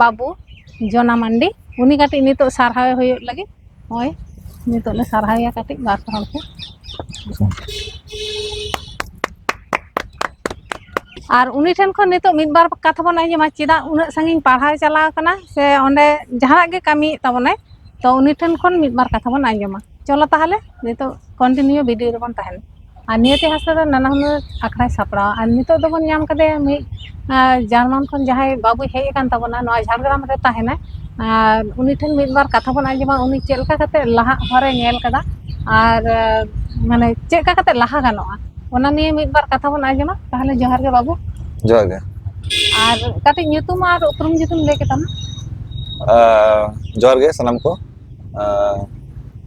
ᱵᱟᱹᱵᱩ ᱡᱚᱱᱟ ᱢᱟᱱᱰᱤ ᱩᱱᱤ ᱠᱟᱹᱴᱤᱡ ᱱᱤᱛᱚᱜ ᱥᱟᱨᱦᱟᱣ ᱦᱩᱭᱩᱜ ᱞᱟᱹᱜᱤᱫ ᱱᱚᱜᱼᱚᱭ ᱱᱤᱛᱚᱜ ᱞᱮ ᱥᱟᱨᱦᱟᱣᱮᱭᱟ ᱠᱟᱹᱴᱤᱡ ᱵᱟᱨ ᱦᱚᱲ ᱠᱚ ᱟᱨ ᱩᱱᱤ ᱴᱷᱮᱱ ᱠᱷᱚᱱ ᱱᱤᱛᱚᱜ ᱢᱤᱫ ᱵᱟᱨ ᱠᱟᱛᱷᱟ ᱵᱚᱱ ᱟᱸᱡᱚᱢᱟ ᱪᱮᱫᱟᱜ ᱩᱱᱟᱹᱜ ᱥᱟᱺᱜᱤᱧ ᱯᱟᱲᱦᱟᱣ ᱪᱟᱞᱟᱣ ᱠᱟᱱᱟ ᱥᱮ ᱚᱸᱰᱮ ᱡᱟᱦᱟᱱᱟᱜ ᱜᱮ ᱠᱟᱹᱢᱤᱭᱮᱫ ᱛᱟᱵᱚᱱᱟᱭ ᱛᱚ ᱩᱱᱤ ᱴᱷᱮᱱ ᱠᱷᱚᱱ ᱢᱤᱫ ᱵᱟᱨ ᱠᱟᱛᱷᱟ ᱵᱚᱱ ᱟᱸᱡᱚᱢᱟ ᱪᱚᱞᱚ ᱛᱟᱦᱚᱞᱮ ᱱᱤᱛᱚᱜ ᱠᱚᱱᱴᱤᱱᱤᱭᱩ ᱵᱷᱤᱰᱤᱭᱳ ᱨᱮᱵᱚᱱ ᱛᱟᱦᱮᱱᱟ ᱟᱨ ᱱᱤᱭᱟᱹᱛᱮ ᱦᱟᱥᱟ ᱫᱚ ᱱᱟᱱᱟ ᱦᱩᱱᱟᱹᱨ ᱟᱠᱷᱲᱟᱭ ᱥᱟᱯᱲᱟᱣᱟ ᱟᱨ ᱱᱤᱛᱚᱜ ᱫᱚᱵᱚᱱ ᱧᱟᱢ ᱠᱟᱫᱮᱭᱟ ᱢᱤᱫ ᱡᱟᱨᱢᱟᱱ ᱠᱷᱚᱱ ᱡᱟᱦᱟᱸᱭ ᱵᱟᱹᱵᱩᱭ ᱦᱮᱡ ᱟᱠᱟᱱ ᱛᱟᱵᱚᱱᱟ ᱱᱚᱣᱟ ᱡᱷᱟᱲᱜᱨᱟᱢ ᱨᱮ ᱛᱟᱦᱮᱱᱟᱭ ᱟᱨ ᱩᱱᱤ ᱴᱷᱮᱱ ᱢᱤᱫ ᱵᱟᱨ ᱠᱟᱛᱷᱟ ᱵᱚᱱ ᱟᱸᱡᱚᱢᱟ ᱩᱱᱤ ᱪᱮᱫ ᱞᱮᱠᱟ ᱠᱟᱛᱮ ᱞᱟᱦᱟᱜ ᱦᱚᱨᱮ ᱧᱮᱞ ᱠᱟᱫᱟ ᱟᱨ ᱢᱟᱱᱮ ᱪᱮᱫ ᱞᱮᱠᱟ ᱠᱟᱛᱮ ᱞᱟᱦᱟ ᱜᱟᱱᱚᱜᱼᱟ ᱚᱱᱟ ᱱᱤᱭᱮ ᱢᱤᱫ ᱵᱟᱨ ᱠᱟᱛᱷᱟ ᱵᱚᱱ ᱟᱸᱡᱚᱢᱟ ᱛᱟᱦᱚᱞᱮ ᱡᱚᱦᱟᱨ ᱜᱮ ᱵᱟᱹᱵᱩ ᱡᱚᱦᱟᱨ ᱜᱮ ᱟᱨ ᱠᱟᱹᱴᱤᱡ ᱧᱩᱛᱩᱢ ᱟᱨ ᱩᱯᱨᱩᱢ ᱡᱩᱫᱤᱢ ᱞᱟᱹᱭ ᱠᱮᱛᱟᱢᱟ ᱡᱚᱦᱟᱨ ᱜᱮ ᱥᱟᱱᱟᱢ ᱠᱚ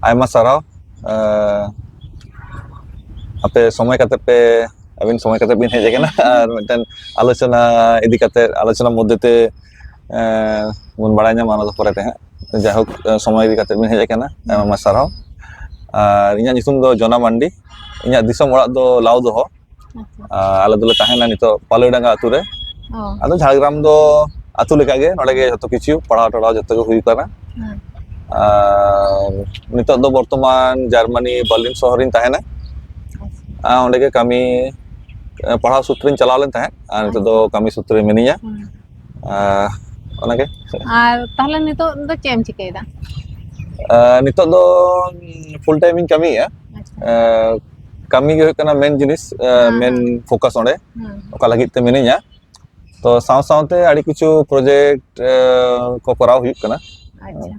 ᱟᱭᱢᱟ ᱥᱟᱨᱦᱟᱣ ᱟᱯᱮ ᱥᱚᱢᱚᱭ ᱠᱟᱛᱮ ᱯᱮ ᱟᱹᱵᱤᱱ ᱥᱚᱢᱚᱭ ᱠᱟᱛᱮ ᱵᱤᱱ ᱦᱮᱡ ᱟᱠᱟᱱᱟ ᱟᱨ ᱢᱤᱫᱴᱮᱱ ᱟᱞᱳᱪᱚᱱᱟ ᱤᱫᱤ ᱠᱟᱛᱮ ᱟᱞᱳᱪᱚᱱᱟ ᱢᱚᱫᱽᱫᱷᱮ ᱛᱮ ᱵᱚᱱ ᱵᱟᱲᱟᱭ ᱧᱟᱢᱟ ᱚᱱᱟ ᱫᱚ ᱯᱚᱨᱮ ᱛᱮ ᱦᱟᱸᱜ ᱡᱟᱭᱦᱳᱠ ᱥᱚᱢᱚᱭ ᱤᱫᱤ ᱠᱟᱛᱮ ᱵᱤᱱ ᱦᱮᱡ ᱟᱠᱟᱱᱟ ᱟᱭᱢᱟ ᱥᱟᱨᱦᱟᱣ ᱟᱨ ᱤᱧᱟᱹᱜ ᱧᱩᱛᱩᱢ ᱫᱚ ᱡᱚᱱᱟ ᱢᱟᱱᱰᱤ ᱤᱧᱟᱹᱜ ᱫᱤᱥᱚᱢ ᱚᱲᱟᱜ ᱫᱚ ᱞᱟᱣᱫᱚᱦᱚ ᱟᱞᱮ ᱫᱚᱞᱮ ᱛᱟᱦᱮᱱᱟ ᱱᱤᱛᱚᱜ ᱯᱟᱞᱚᱭᱰᱟᱸᱜᱟ ᱟᱛᱳ ᱨᱮ ᱟᱫᱚ ᱡᱷᱟᱲᱜᱨᱟᱢ ᱫᱚ ᱟᱛᱳ ᱞᱮᱠᱟᱜᱮ ᱱᱚᱰᱮ ᱜᱮ ᱡᱚᱛᱚ ᱠᱤᱪᱷᱩ ᱯᱟᱲᱦᱟᱣ ᱴᱟᱲᱦᱟᱣ ᱡᱚᱛᱚ ᱜᱮ ᱦᱩᱭ ᱠᱟᱱᱟ ᱟᱨ ᱱᱤᱛᱚᱜ ᱫᱚ ᱵᱚᱨᱛᱚᱢᱟᱱ ᱡᱟᱨᱢᱟᱱᱤ ᱵᱟᱨᱞᱤᱱ ᱥᱚᱦᱚᱨᱤᱧ ᱛᱟᱦᱮᱱᱟ ᱚᱸᱰᱮ ᱜᱮ ᱠᱟᱹᱢᱤ ᱯᱟᱲᱦᱟᱣ ᱥᱩᱛᱨᱮᱧ ᱪᱟᱞᱟᱣ ᱞᱮᱱ ᱛᱟᱦᱮᱸᱫ ᱟᱨ ᱱᱤᱛᱚᱜ ᱫᱚ ᱠᱟᱹᱢᱤ ᱥᱩᱛᱨᱮ ᱢᱤᱱᱟᱹᱧᱟ ᱚᱱᱟᱜᱮ ᱟᱨ ᱛᱟᱦᱚᱞᱮ ᱱᱤᱛᱚᱜ ᱫᱚ ᱪᱮᱫ ᱮᱢ ᱪᱤᱠᱟᱹᱭᱮᱫᱟ ᱱᱤᱛᱚᱜ ᱫᱚ ᱯᱷᱩᱞ ᱴᱟᱭᱤᱢᱤᱧ ᱠᱟᱹᱢᱤᱭᱮᱫᱼᱟ ᱠᱟᱹᱢᱤ ᱜᱮ ᱦᱩᱭᱩᱜ ᱠᱟᱱᱟ ᱢᱮᱱ ᱡᱤᱱᱤᱥ ᱦᱮᱸ ᱢᱮᱱ ᱦᱮᱸ ᱯᱷᱳᱠᱟᱥ ᱚᱸᱰᱮ ᱦᱮᱸ ᱚᱠᱟ ᱞᱟᱹᱜᱤᱫ ᱛᱮ ᱢᱤᱱᱟᱹᱧᱟ ᱛᱚ ᱥᱟᱶ ᱥᱟᱶᱛᱮ ᱟᱹᱰᱤ ᱠᱤᱪᱷᱩ ᱯᱨᱚᱡᱮᱠᱴ ᱠᱚ ᱠᱚᱨᱟᱣ ᱦᱩᱭᱩᱜ ᱠᱟᱱᱟ ᱟᱪᱪᱷᱟ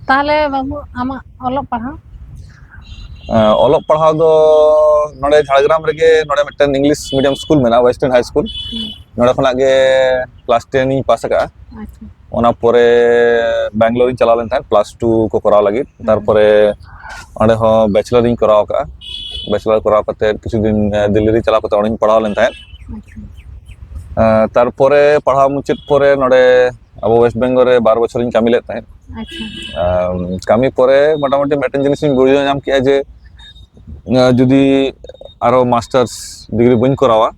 ᱛᱟᱦᱚᱞᱮ ᱵᱟᱹᱵᱩ ᱟᱢᱟᱜ ᱚᱞᱚᱜ ᱯᱟᱲᱦᱟᱣ ᱚᱞᱚᱜ ᱯᱟᱲᱦᱟᱣ ᱫᱚ ᱱᱚᱰᱮ ᱡᱷᱟᱲᱜᱨᱟᱢ ᱨᱮᱜᱮ ᱱᱚᱰᱮ ᱢᱤᱫᱴᱮᱱ ᱤᱝᱞᱤᱥ ᱢᱤᱰᱤᱭᱟᱢ ᱥᱠᱩᱞ ᱢᱮᱱᱟᱜᱼᱟ ᱳᱭᱮᱥᱴᱟᱨᱱ ᱦᱟᱭ ᱥᱠᱩᱞ ᱦᱩᱸ ᱱᱚᱸᱰᱮ ᱠᱷᱚᱱᱟᱜ ᱜᱮ ᱠᱮᱞᱟᱥ ᱴᱮᱱ ᱤᱧ ᱯᱟᱥ ᱟᱠᱟᱜᱼᱟ ᱟᱪᱪᱷᱟ ᱚᱱᱟ ᱯᱚᱨᱮ ᱵᱮᱝᱜᱞᱳᱨᱤᱧ ᱪᱟᱞᱟᱣ ᱞᱮᱱ ᱛᱟᱦᱮᱸᱫ ᱯᱞᱟᱥ ᱴᱩ ᱠᱚ ᱠᱚᱨᱟᱣ ᱞᱟᱹᱜᱤᱫ ᱛᱟᱨᱯᱚᱨᱮ ᱚᱸᱰᱮ ᱦᱚᱸ ᱵᱮᱪᱞᱟᱨᱤᱧ ᱠᱚᱨᱟᱣ ᱠᱟᱜᱼᱟ ᱵᱮᱪᱞᱟᱨ ᱠᱚᱨᱟᱣ ᱠᱟᱛᱮ ᱠᱤᱪᱷᱩ ᱫᱤᱱ ᱫᱤᱞᱞᱤ ᱨᱮ ᱪᱟᱞᱟᱣ ᱠᱟᱛᱮ ᱚᱸᱰᱮᱧ ᱯᱟᱲᱦᱟᱣ ᱞᱮᱱ ᱛᱟᱦᱮᱸᱫ ᱛᱟᱨᱯᱚᱨᱮ ᱯᱟᱲᱦᱟᱣ ᱢᱩᱪᱟᱹᱫ ᱯᱚᱨᱮ ᱱᱚᱰᱮ ᱟᱵᱚ ᱳᱭᱮᱥᱴ ᱵᱮᱝᱜᱚᱞ ᱨᱮ ᱵᱟᱨ ᱵᱚᱪᱷᱚᱨᱤᱧ ᱠᱟᱹᱢᱤ ᱞᱮᱫ ᱛᱟᱦᱮᱸᱫ ᱠᱟᱹᱢᱤ ᱯᱚᱨᱮ ᱢᱚᱴᱟᱢᱩᱴᱤ ᱢᱤᱫᱴᱮᱱ ᱡᱤᱱᱤᱥᱤᱧ ᱵᱩᱡᱷᱟᱹᱣ ᱧᱟᱢ ᱠᱮᱜᱼᱟ ᱡᱮ ᱡᱩᱫᱤ ᱟᱨᱚ ᱢᱟᱥᱴᱟᱨᱥ ᱰᱤᱜᱽᱨᱤ ᱵᱟᱹᱧ ᱠᱚᱨᱟᱣᱟ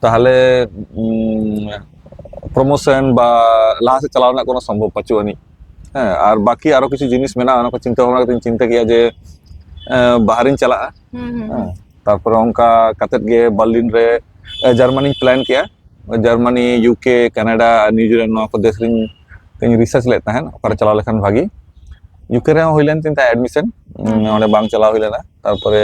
ᱛᱟᱦᱚᱞᱮ ᱯᱨᱚᱢᱳᱥᱚᱱ ᱵᱟ ᱞᱟᱦᱟ ᱥᱮᱫ ᱪᱟᱞᱟᱣ ᱨᱮᱱᱟᱜ ᱠᱳᱱᱳ ᱥᱚᱢᱵᱷᱚᱵ ᱯᱟᱪᱩᱜ ᱟᱹᱱᱤᱡ ᱦᱮᱸ ᱟᱨ ᱵᱟᱠᱤ ᱟᱨᱚ ᱠᱤᱪᱷᱩ ᱡᱤᱱᱤᱥ ᱢᱮᱱᱟᱜᱼᱟ ᱚᱱᱟ ᱠᱚ ᱪᱤᱱᱛᱟᱹ ᱵᱷᱟᱵᱽᱱᱟ ᱠᱟᱛᱮᱧ ᱪᱤᱱᱛᱟᱹ ᱠᱮᱜᱼᱟ ᱡᱮ ᱵᱟᱦᱨᱤᱧ ᱪᱟᱞᱟᱜᱼᱟ ᱦᱮᱸ ᱛᱟᱨᱯᱚᱨᱮ ᱚᱱᱠᱟ ᱠᱟᱛᱮᱫ ᱜᱮ ᱵᱟᱨᱞᱤᱱ ᱨᱮ ᱡᱟᱨᱢᱟᱱᱤᱧ ᱯᱞᱟᱱ ᱠᱮᱜᱼᱟ ᱡᱟᱨᱢᱟᱱᱤ ᱤᱭᱩᱠᱮ ᱠᱟᱱᱟᱰᱟ ᱟᱨ ᱱᱤᱭᱩᱡᱤᱞᱮᱱᱰ ᱱᱚᱣᱟ ᱠᱚ ᱫᱮᱥ ᱨᱤᱧ ᱤᱧ ᱨᱤᱥᱟᱨᱪ ᱞᱮᱫ ᱛᱟᱦᱮᱸᱫ ᱚᱠᱟᱨᱮ ᱪᱟᱞᱟᱣ ᱞᱮᱠᱷᱟᱱ ᱵᱷᱟᱜᱤ ᱤᱭᱩᱠᱮ ᱨᱮᱦᱚᱸ ᱦᱩᱭ ᱞᱮᱱ ᱛᱤᱧ ᱛᱟᱦᱮᱸᱫ ᱮᱰᱢᱤᱥᱚᱱ ᱚᱸᱰᱮ ᱵᱟᱝ ᱪᱟᱞᱟᱣ ᱦᱩᱭ ᱞᱮᱱᱟ ᱛᱟᱨᱯᱚᱨᱮ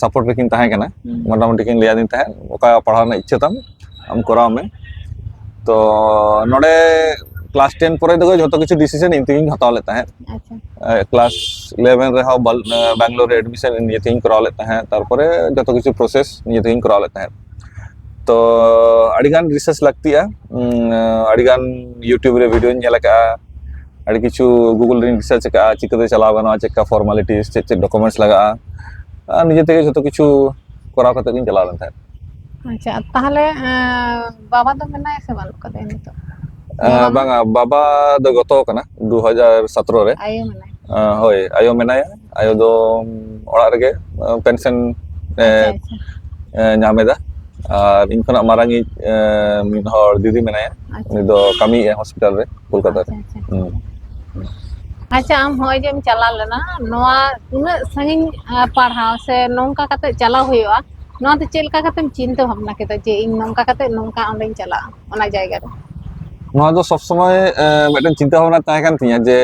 ᱥᱟᱯᱳᱨᱴ ᱨᱮᱠᱤᱱ ᱛᱟᱦᱮᱸ ᱠᱟᱱᱟ ᱢᱚᱴᱟᱢᱩᱴᱤ ᱠᱤᱱ ᱞᱟᱹᱭᱟᱫᱤᱧ ᱛᱟᱦᱮᱸᱫ ᱚᱠᱟ ᱯᱟᱲᱦᱟᱣ ᱨᱮᱱᱟᱜ ᱤᱪᱪᱷᱟᱹ ᱛᱟᱢ ᱟᱢ ᱠᱚᱨᱟᱣ ᱢᱮ ᱛᱚ ᱱᱚᱰᱮ ᱠᱞᱟᱥ ᱴᱮᱱ ᱯᱚᱨᱮ ᱫᱚ ᱡᱚᱛᱚ ᱠᱤᱪᱷᱩ ᱰᱤᱥᱤᱥᱮᱱ ᱤᱧ ᱛᱮᱜᱤᱧ ᱦᱟᱛᱟᱣ ᱞᱮᱫ ᱛᱟᱦᱮᱸᱫ ᱠᱞᱟᱥ ᱤᱞᱮᱵᱷᱮᱱ ᱨᱮᱦᱚᱸ ᱵᱮᱝᱜᱞᱳᱨ ᱨᱮ ᱮᱰᱢᱤᱥᱚᱱ ᱱᱤᱡᱮ ᱛᱮᱜᱤᱧ ᱠᱚᱨᱟᱣ ᱞᱮᱫ ᱛᱟᱦᱮᱸᱫ ᱛᱟᱨᱯᱚᱨᱮ ᱡᱚᱛᱚ ᱠᱤᱪᱷᱩ ᱯᱨᱚᱥᱮᱥ ᱱᱤᱡᱮ ᱛᱮᱜᱤᱧ ᱠᱚᱨᱟᱣ ᱞᱮᱫ ᱛᱟᱦᱮᱸᱫ ᱛᱚ ᱟᱹᱰᱤᱜᱟᱱ ᱨᱤᱥᱟᱨᱪ ᱞᱟᱹᱠᱛᱤᱜᱼᱟ ᱟᱹᱰᱤᱜᱟᱱ ᱤᱭᱩᱴᱩᱵᱽ ᱨᱮ ᱵᱷᱤᱰᱭᱳᱧ ᱧᱮᱞ ᱟᱠᱟᱫᱼᱟ ᱟᱹᱰᱤ ᱠᱤᱪᱷᱩ ᱜᱩᱜᱩᱞ ᱨᱮᱧ ᱨᱤᱥᱟᱨᱪ ᱟᱠᱟᱫᱼᱟ ᱪᱤᱠᱟᱹᱛᱮ ᱪᱟᱞᱟᱣ ᱜᱟᱱᱚᱜᱼᱟ ᱪᱮᱫᱠᱟ ᱯᱷᱚᱨᱢᱟᱞᱤᱴᱤᱥ ᱪᱮᱫ ᱪᱮᱫ ᱰᱚᱠᱩᱢᱮᱱᱴᱥ ᱞᱟᱜᱟᱜᱼᱟ ᱟᱨ ᱱᱤᱡᱮ ᱛᱮᱜᱮ ᱡᱚᱛᱚ ᱠᱤᱪᱷᱩ ᱠᱚᱨᱟᱣ ᱠᱟᱛᱮ ᱜᱤᱧ ᱪᱟᱞᱟᱣ ᱞᱮᱱ ᱛᱟᱦᱮᱸᱫ ᱟᱪᱪᱷᱟ ᱛᱟᱦᱚᱞᱮ ᱵᱟᱵᱟ ᱫᱚ ᱢᱮᱱᱟᱭᱟ ᱥᱮ ᱵᱟᱹᱱᱩᱜ ᱠᱟᱫᱮᱭᱟ ᱱᱤᱛᱚᱜ ᱵᱟᱝᱟ ᱵᱟᱵᱟ ᱫᱚ ᱜᱚᱛᱚ ᱠᱟᱱᱟ ᱫᱩ ᱦᱟᱡᱟᱨ ᱥᱟᱛᱨᱚ ᱨᱮ ᱟᱭᱳ ᱢᱮᱱᱟᱭᱟ ᱦᱳᱭ ᱟᱭᱳ ᱢᱮᱱᱟᱭᱟ ᱟᱭᱳ ᱫᱚ ᱚᱲᱟᱜ ᱨᱮᱜᱮ ᱯᱮᱱᱥᱮᱱ ᱧᱟᱢᱮᱫᱟ ᱟᱨ ᱤᱧ ᱠᱷᱚᱱᱟᱜ ᱢᱟᱨᱟᱝᱤᱡ ᱢᱤᱫ ᱦᱚᱲ ᱫᱤᱫᱤ ᱢᱮᱱᱟᱭᱟ ᱩᱱᱤ ᱫᱚ ᱠᱟᱹᱢᱤᱭᱮᱫᱼᱟᱭ ᱦᱚᱥᱯᱤᱴᱟᱞ ᱨᱮ ᱠᱳᱞᱠᱟᱛᱟ ᱨᱮ ᱟᱪᱪᱷᱟ ᱟᱪᱪᱷᱟ ᱦᱩᱸ ᱟᱪᱪᱷᱟ ᱟᱢ ᱦᱚᱸᱜᱼᱚᱭ ᱡᱮᱢ ᱪᱟᱞᱟᱣ ᱞᱮᱱᱟ ᱱᱚᱣᱟ ᱩᱱᱟᱹᱜ ᱥᱟᱺᱜᱤᱧ ᱯᱟᱲᱦᱟᱣ ᱥᱮ ᱱᱚᱝᱠᱟ ᱠᱟᱛᱮ ᱛᱮᱫ ᱪᱟᱞᱟᱣ ᱦᱩᱭᱩᱜᱼᱟ ᱱᱚᱣᱟ ᱫᱚ ᱪᱮᱫ ᱞᱮᱠᱟ ᱠᱟᱛᱮᱢ ᱪᱤᱱᱛᱟᱹ ᱵᱷᱟᱵᱽᱱᱟ ᱠᱮᱫᱟ ᱡᱮ ᱤᱧ ᱱᱚᱝᱠᱟ ᱠᱟᱛᱮᱜ ᱱᱚᱝᱠᱟ ᱚᱸᱰᱮᱧ ᱪᱟᱞᱟᱜᱼᱟ ᱚᱱᱟ ᱡᱟᱭᱜᱟ ᱨᱮ ᱱᱚᱣᱟ ᱫᱚ ᱥᱚᱵᱽ ᱥᱚᱢᱚᱭ ᱢᱤᱫᱴᱮᱱ ᱪᱤᱱᱛᱟᱹ ᱵᱷᱟᱵᱱᱟ ᱛᱟᱦᱮᱸ ᱠᱟᱱ ᱛᱤᱧᱟᱹ ᱡᱮ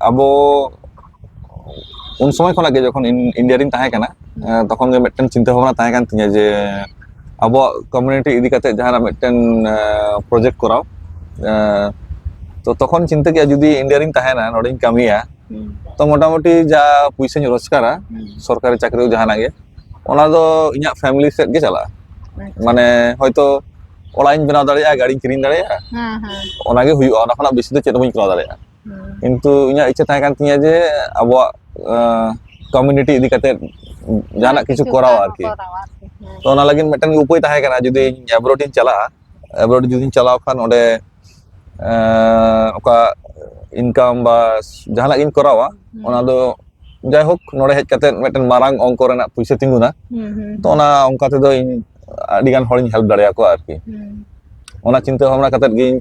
ᱟᱵᱚ ᱩᱱ ᱥᱚᱢᱚᱭ ᱠᱷᱚᱱᱟᱜ ᱜᱮ ᱡᱚᱠᱷᱚᱱ ᱤᱱᱰᱤᱭᱟ ᱨᱤᱧ ᱛᱟᱦᱮᱸ ᱠᱟᱱᱟ ᱛᱚᱠᱷᱚᱱ ᱜᱮ ᱢᱤᱫᱴᱮᱱ ᱪᱤᱱᱛᱟᱹ ᱵᱷᱟᱵᱽᱱᱟ ᱛᱟᱦᱮᱸ ᱠᱟᱱ ᱛᱤᱧᱟᱹ ᱡᱮ ᱟᱵᱚᱣᱟᱜ ᱠᱚᱢᱤউᱱᱤᱴᱤ ᱤᱫᱤ ᱠᱟᱛᱮ ᱡᱟᱦᱟᱱᱟᱜ ᱢᱤᱫᱴᱮᱱ ᱯᱨᱚᱡᱮᱠᱴ ᱠᱚᱨᱟᱣ ᱛᱚ ᱛᱚᱠᱷᱚᱱ ᱪᱤᱱᱛᱟᱹ ᱠᱮᱫᱼᱟ ᱡᱩᱫᱤ ᱤᱱᱰᱤᱭᱟ ᱨᱤᱧ ᱛᱟᱦᱮᱱᱟ ᱱᱚᱰᱮᱧ ᱠᱟᱹᱢᱤᱭᱟ ᱛᱚ ᱢᱚᱴᱟᱢᱩᱴᱤ ᱡᱟ ᱯᱩᱭᱥᱟᱹᱧ ᱨᱳᱡᱽᱜᱟᱨᱟ ᱥᱚᱨᱠᱟᱨᱤ ᱪᱟᱹᱠᱨᱤ ᱡᱟᱦᱟᱱᱟᱜ ᱜᱮ ᱚᱱᱟ ᱫᱚ ᱤᱧᱟᱹᱜ ᱯᱷᱮᱢᱤᱞᱤ ᱥᱮᱫ ᱜᱮ ᱪᱟᱞᱟᱜᱼᱟ ᱢᱟᱱᱮ ᱦᱚᱭᱛᱚ ᱚᱲᱟᱜ ᱤᱧ ᱵᱮᱱᱟᱣ ᱫᱟᱲᱮᱭᱟᱜᱼᱟ ᱜᱟᱹᱰᱤᱧ ᱠᱤᱨᱤᱧ ᱫᱟᱲᱮᱭᱟᱜᱼᱟ ᱚᱱᱟᱜᱮ ᱦᱩᱭᱩᱜᱼᱟ ᱚᱱᱟ ᱠᱷᱚᱱᱟᱜ ᱵᱮᱥᱤ ᱫᱚ ᱪᱮᱫ ᱦᱚᱸ ᱵᱟᱹᱧ ᱠᱚᱨᱟᱣ ᱫᱟᱲᱮᱭᱟᱜᱼᱟ ᱠᱤᱱᱛᱩ ᱤᱧᱟᱹᱜ ᱤᱪᱪᱷᱟᱹ ᱛᱟᱦᱮᱸ ᱠᱟᱱ ᱛᱤᱧᱟᱹ ᱡᱮ ᱟᱵᱚᱣᱟᱜ ᱠᱚᱢᱤউᱱᱤᱴᱤ ᱤᱫᱤ ᱠᱟᱛᱮ ᱡᱟᱦᱟᱱᱟᱜ ᱠᱤᱪᱷᱩ ᱠᱚᱨᱟᱣ ᱟᱨᱠᱤ ᱛᱚ ᱚᱱᱟ ᱞᱟᱹᱜᱤᱫ ᱢᱤᱫᱴᱟᱝ ᱩᱯᱟᱹᱭ ᱛᱟᱦᱮᱸ ᱠᱟᱱᱟ ᱡᱩᱫᱤ ᱤᱧ ᱮᱵᱨᱚᱰ ᱤᱧ ᱪᱟᱞᱟᱜᱼᱟ ᱮᱵᱨᱚᱰ ᱡᱩᱫᱤᱧ ᱪᱟᱞᱟᱣ ᱠᱷᱟᱱ ᱚᱸᱰᱮ ᱚᱠᱟ ᱤᱱᱠᱟᱢ ᱵᱟ ᱡᱟᱦᱟᱱᱟᱜ ᱜᱤᱧ ᱠᱚᱨᱟᱣᱟ ᱚᱱᱟ ᱫᱚ ᱡᱟᱭᱦᱳᱠ ᱱᱚᱰᱮ ᱦᱮᱡ ᱠᱟᱛᱮ ᱢᱤᱫᱴᱮᱱ ᱢᱟᱨᱟᱝ ᱚᱝᱠᱚ ᱨᱮᱱᱟᱜ ᱯᱩᱭᱥᱟᱹ ᱛᱤᱸᱜᱩᱱᱟ ᱛᱚ ᱚᱱᱟ ᱚᱱᱠᱟ ᱛᱮᱫᱚ ᱤᱧ ᱟᱹᱰᱤ ᱜᱟᱱ ᱦᱚᱲᱤᱧ ᱦᱮᱞᱯ ᱫᱟᱲᱮᱭᱟᱠᱚᱣᱟ ᱟᱨᱠᱤ ᱚᱱᱟ ᱪᱤᱱᱛᱟᱹ ᱵᱷᱟᱵᱽᱱᱟ ᱠᱟᱛᱮ ᱜᱤᱧ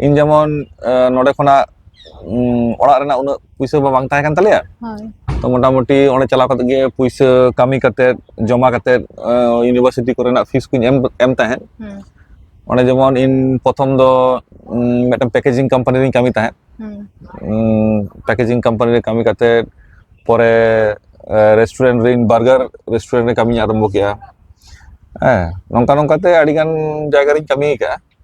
ᱤᱧ ᱡᱮᱢᱚᱱ ᱟᱸ, ᱱᱚᱸᱰᱮ ᱠᱷᱚᱱᱟᱜ ᱩᱸ, ᱚᱲᱟᱜ ᱨᱮᱱᱟᱜ ᱩᱱᱟᱹᱜ ᱯᱩᱭᱥᱟᱹ ᱢᱟ ᱵᱟᱝ ᱛᱟᱦᱮᱸ ᱠᱟᱱ ᱛᱟᱞᱮᱭᱟ ᱦᱳᱭ ᱛᱚ ᱢᱚᱴᱟᱢᱩᱴᱤ ᱚᱸᱰᱮ ᱪᱟᱞᱟᱣ ᱠᱟᱛᱮ ᱜᱮ ᱯᱩᱭᱥᱟᱹ ᱠᱟᱹᱢᱤ ᱠᱟᱛᱮ ᱡᱚᱢᱟ ᱠᱟᱛᱮ ᱤᱭᱩᱱᱤᱵᱷᱟᱨᱥᱤᱴᱤ ᱠᱚᱨᱮᱱᱟᱜ ᱯᱷᱤᱥ ᱠᱚᱧ ᱮᱢ ᱮᱢ ᱛᱟᱦᱮᱸᱫ ᱦᱩᱸ ᱚᱸᱰᱮ ᱡᱮᱢᱚᱱ ᱤᱧ ᱯᱨᱚᱛᱷᱚᱢ ᱫᱚ ᱩᱸ, ᱢᱤᱫᱴᱮᱱ ᱯᱮᱠᱮᱡᱤᱝ ᱠᱳᱢᱯᱟᱱᱤ ᱨᱤᱧ ᱠᱟᱹᱢᱤ ᱛᱟᱦᱮᱸᱫ ᱦᱩᱸ ᱯᱮᱠᱮᱡᱤᱝ ᱠᱳᱢᱯᱟᱱᱤ ᱨᱮ ᱠᱟᱹᱢᱤ ᱠᱟᱛᱮ ᱯᱚᱨᱮ ᱨᱮᱥᱴᱩᱨᱮᱱᱴ ᱨᱤᱧ ᱵᱟᱨᱜᱟᱨ ᱨᱮᱥᱴᱩᱨᱮᱱᱴ ᱨᱮ ᱠᱟᱹᱢᱤᱧ ᱟᱨᱟᱢᱵᱷᱚ ᱠᱮᱫᱼᱟ ᱦᱮᱸ ᱱᱚᱝᱠᱟ ᱱᱚᱝᱠᱟᱛᱮ ᱟᱹᱰᱤᱜᱟᱱ ᱡᱟᱭᱜᱟ ᱨᱤᱧ ᱠᱟᱹᱢᱤ ᱟᱠᱟᱫᱼᱟ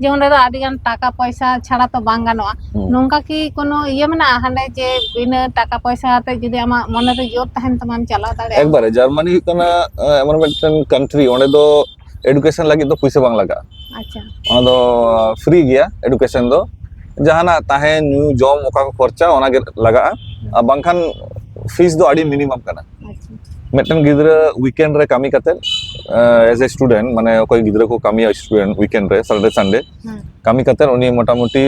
ᱡᱤᱭᱚᱱ ᱨᱮᱫᱚ ᱟᱹᱰᱤ ᱜᱟᱱ ᱴᱟᱠᱟ ᱯᱚᱭᱥᱟ ᱪᱷᱟᱲᱟ ᱛᱚ ᱵᱟᱝ ᱜᱟᱱᱚᱜᱼᱟ ᱦᱩᱸ ᱱᱚᱝᱠᱟ ᱠᱤ ᱠᱳᱱᱳ ᱤᱭᱟᱹ ᱢᱮᱱᱟᱜᱼᱟ ᱦᱟᱸᱰᱮ ᱡᱮ ᱵᱤᱱᱟᱹ ᱴᱟᱠᱟ ᱯᱚᱭᱥᱟ ᱛᱮ ᱡᱩᱫᱤ ᱟᱢᱟᱜ ᱢᱚᱱᱮ ᱨᱮ ᱡᱳᱨ ᱛᱟᱦᱮᱱ ᱛᱟᱢᱟᱢ ᱪᱟᱞᱟᱣ ᱫᱟᱲᱮᱭᱟᱜᱼᱟ ᱮᱠᱵᱟᱨᱮ ᱡᱟᱨᱢᱟᱱᱤ ᱦᱩᱭᱩᱜ ᱠᱟᱱᱟ ᱮᱢᱚᱱ ᱢᱤᱫᱴᱮᱱ ᱠᱟᱱᱴᱨᱤ ᱚᱸᱰᱮ ᱫᱚ ᱮᱰᱩᱠᱮᱥᱚᱱ ᱞᱟᱹᱜᱤᱫ ᱫᱚ ᱯᱩᱭᱥᱟᱹ ᱵᱟᱝ ᱞᱟᱜᱟᱜᱼᱟ ᱟᱪᱪᱷᱟ ᱚᱱᱟ ᱫᱚ ᱯᱷᱨᱤ ᱜᱮᱭᱟ ᱮᱰᱩᱠᱮᱥᱚᱱ ᱫᱚ ᱡᱟᱦᱟᱱᱟᱜ ᱛᱟᱦᱮᱸ ᱧᱩ ᱡᱚᱢ ᱚᱠᱟ ᱠᱚ ᱠᱷᱚᱨᱪᱟ ᱚᱱᱟᱜᱮ ᱞᱟᱜᱟᱜᱼᱟ ᱟᱨ ᱵᱟᱝᱠᱷᱟᱱ ᱯᱷᱤᱥ ᱫᱚ ᱟᱹᱰᱤ ᱢᱤᱱᱤᱢᱟᱢ ᱠᱟᱱᱟ ᱢᱤᱫᱴᱮᱱ ᱜᱤᱫᱽᱨᱟᱹ ᱩᱭᱠᱮᱱᱰ ᱨᱮ ᱠᱟᱹᱢᱤ ᱠᱟᱛᱮ ᱮᱡ ᱮ ᱥᱴᱩᱰᱮᱱᱴ ᱢᱟᱱᱮ ᱚᱠᱚᱭ ᱜᱤᱫᱽᱨᱟᱹ ᱠᱚ ᱠᱟᱹᱢᱤᱭᱟ ᱥᱴᱩᱰᱮᱱᱴ ᱩᱭᱠᱮᱱᱰ ᱨᱮ ᱥᱟᱴᱰᱮ ᱥᱟᱱᱰᱮ ᱠᱟᱹᱢᱤ ᱠᱟᱛᱮ ᱩᱱᱤ ᱢᱚᱴᱟᱢᱩᱴᱤ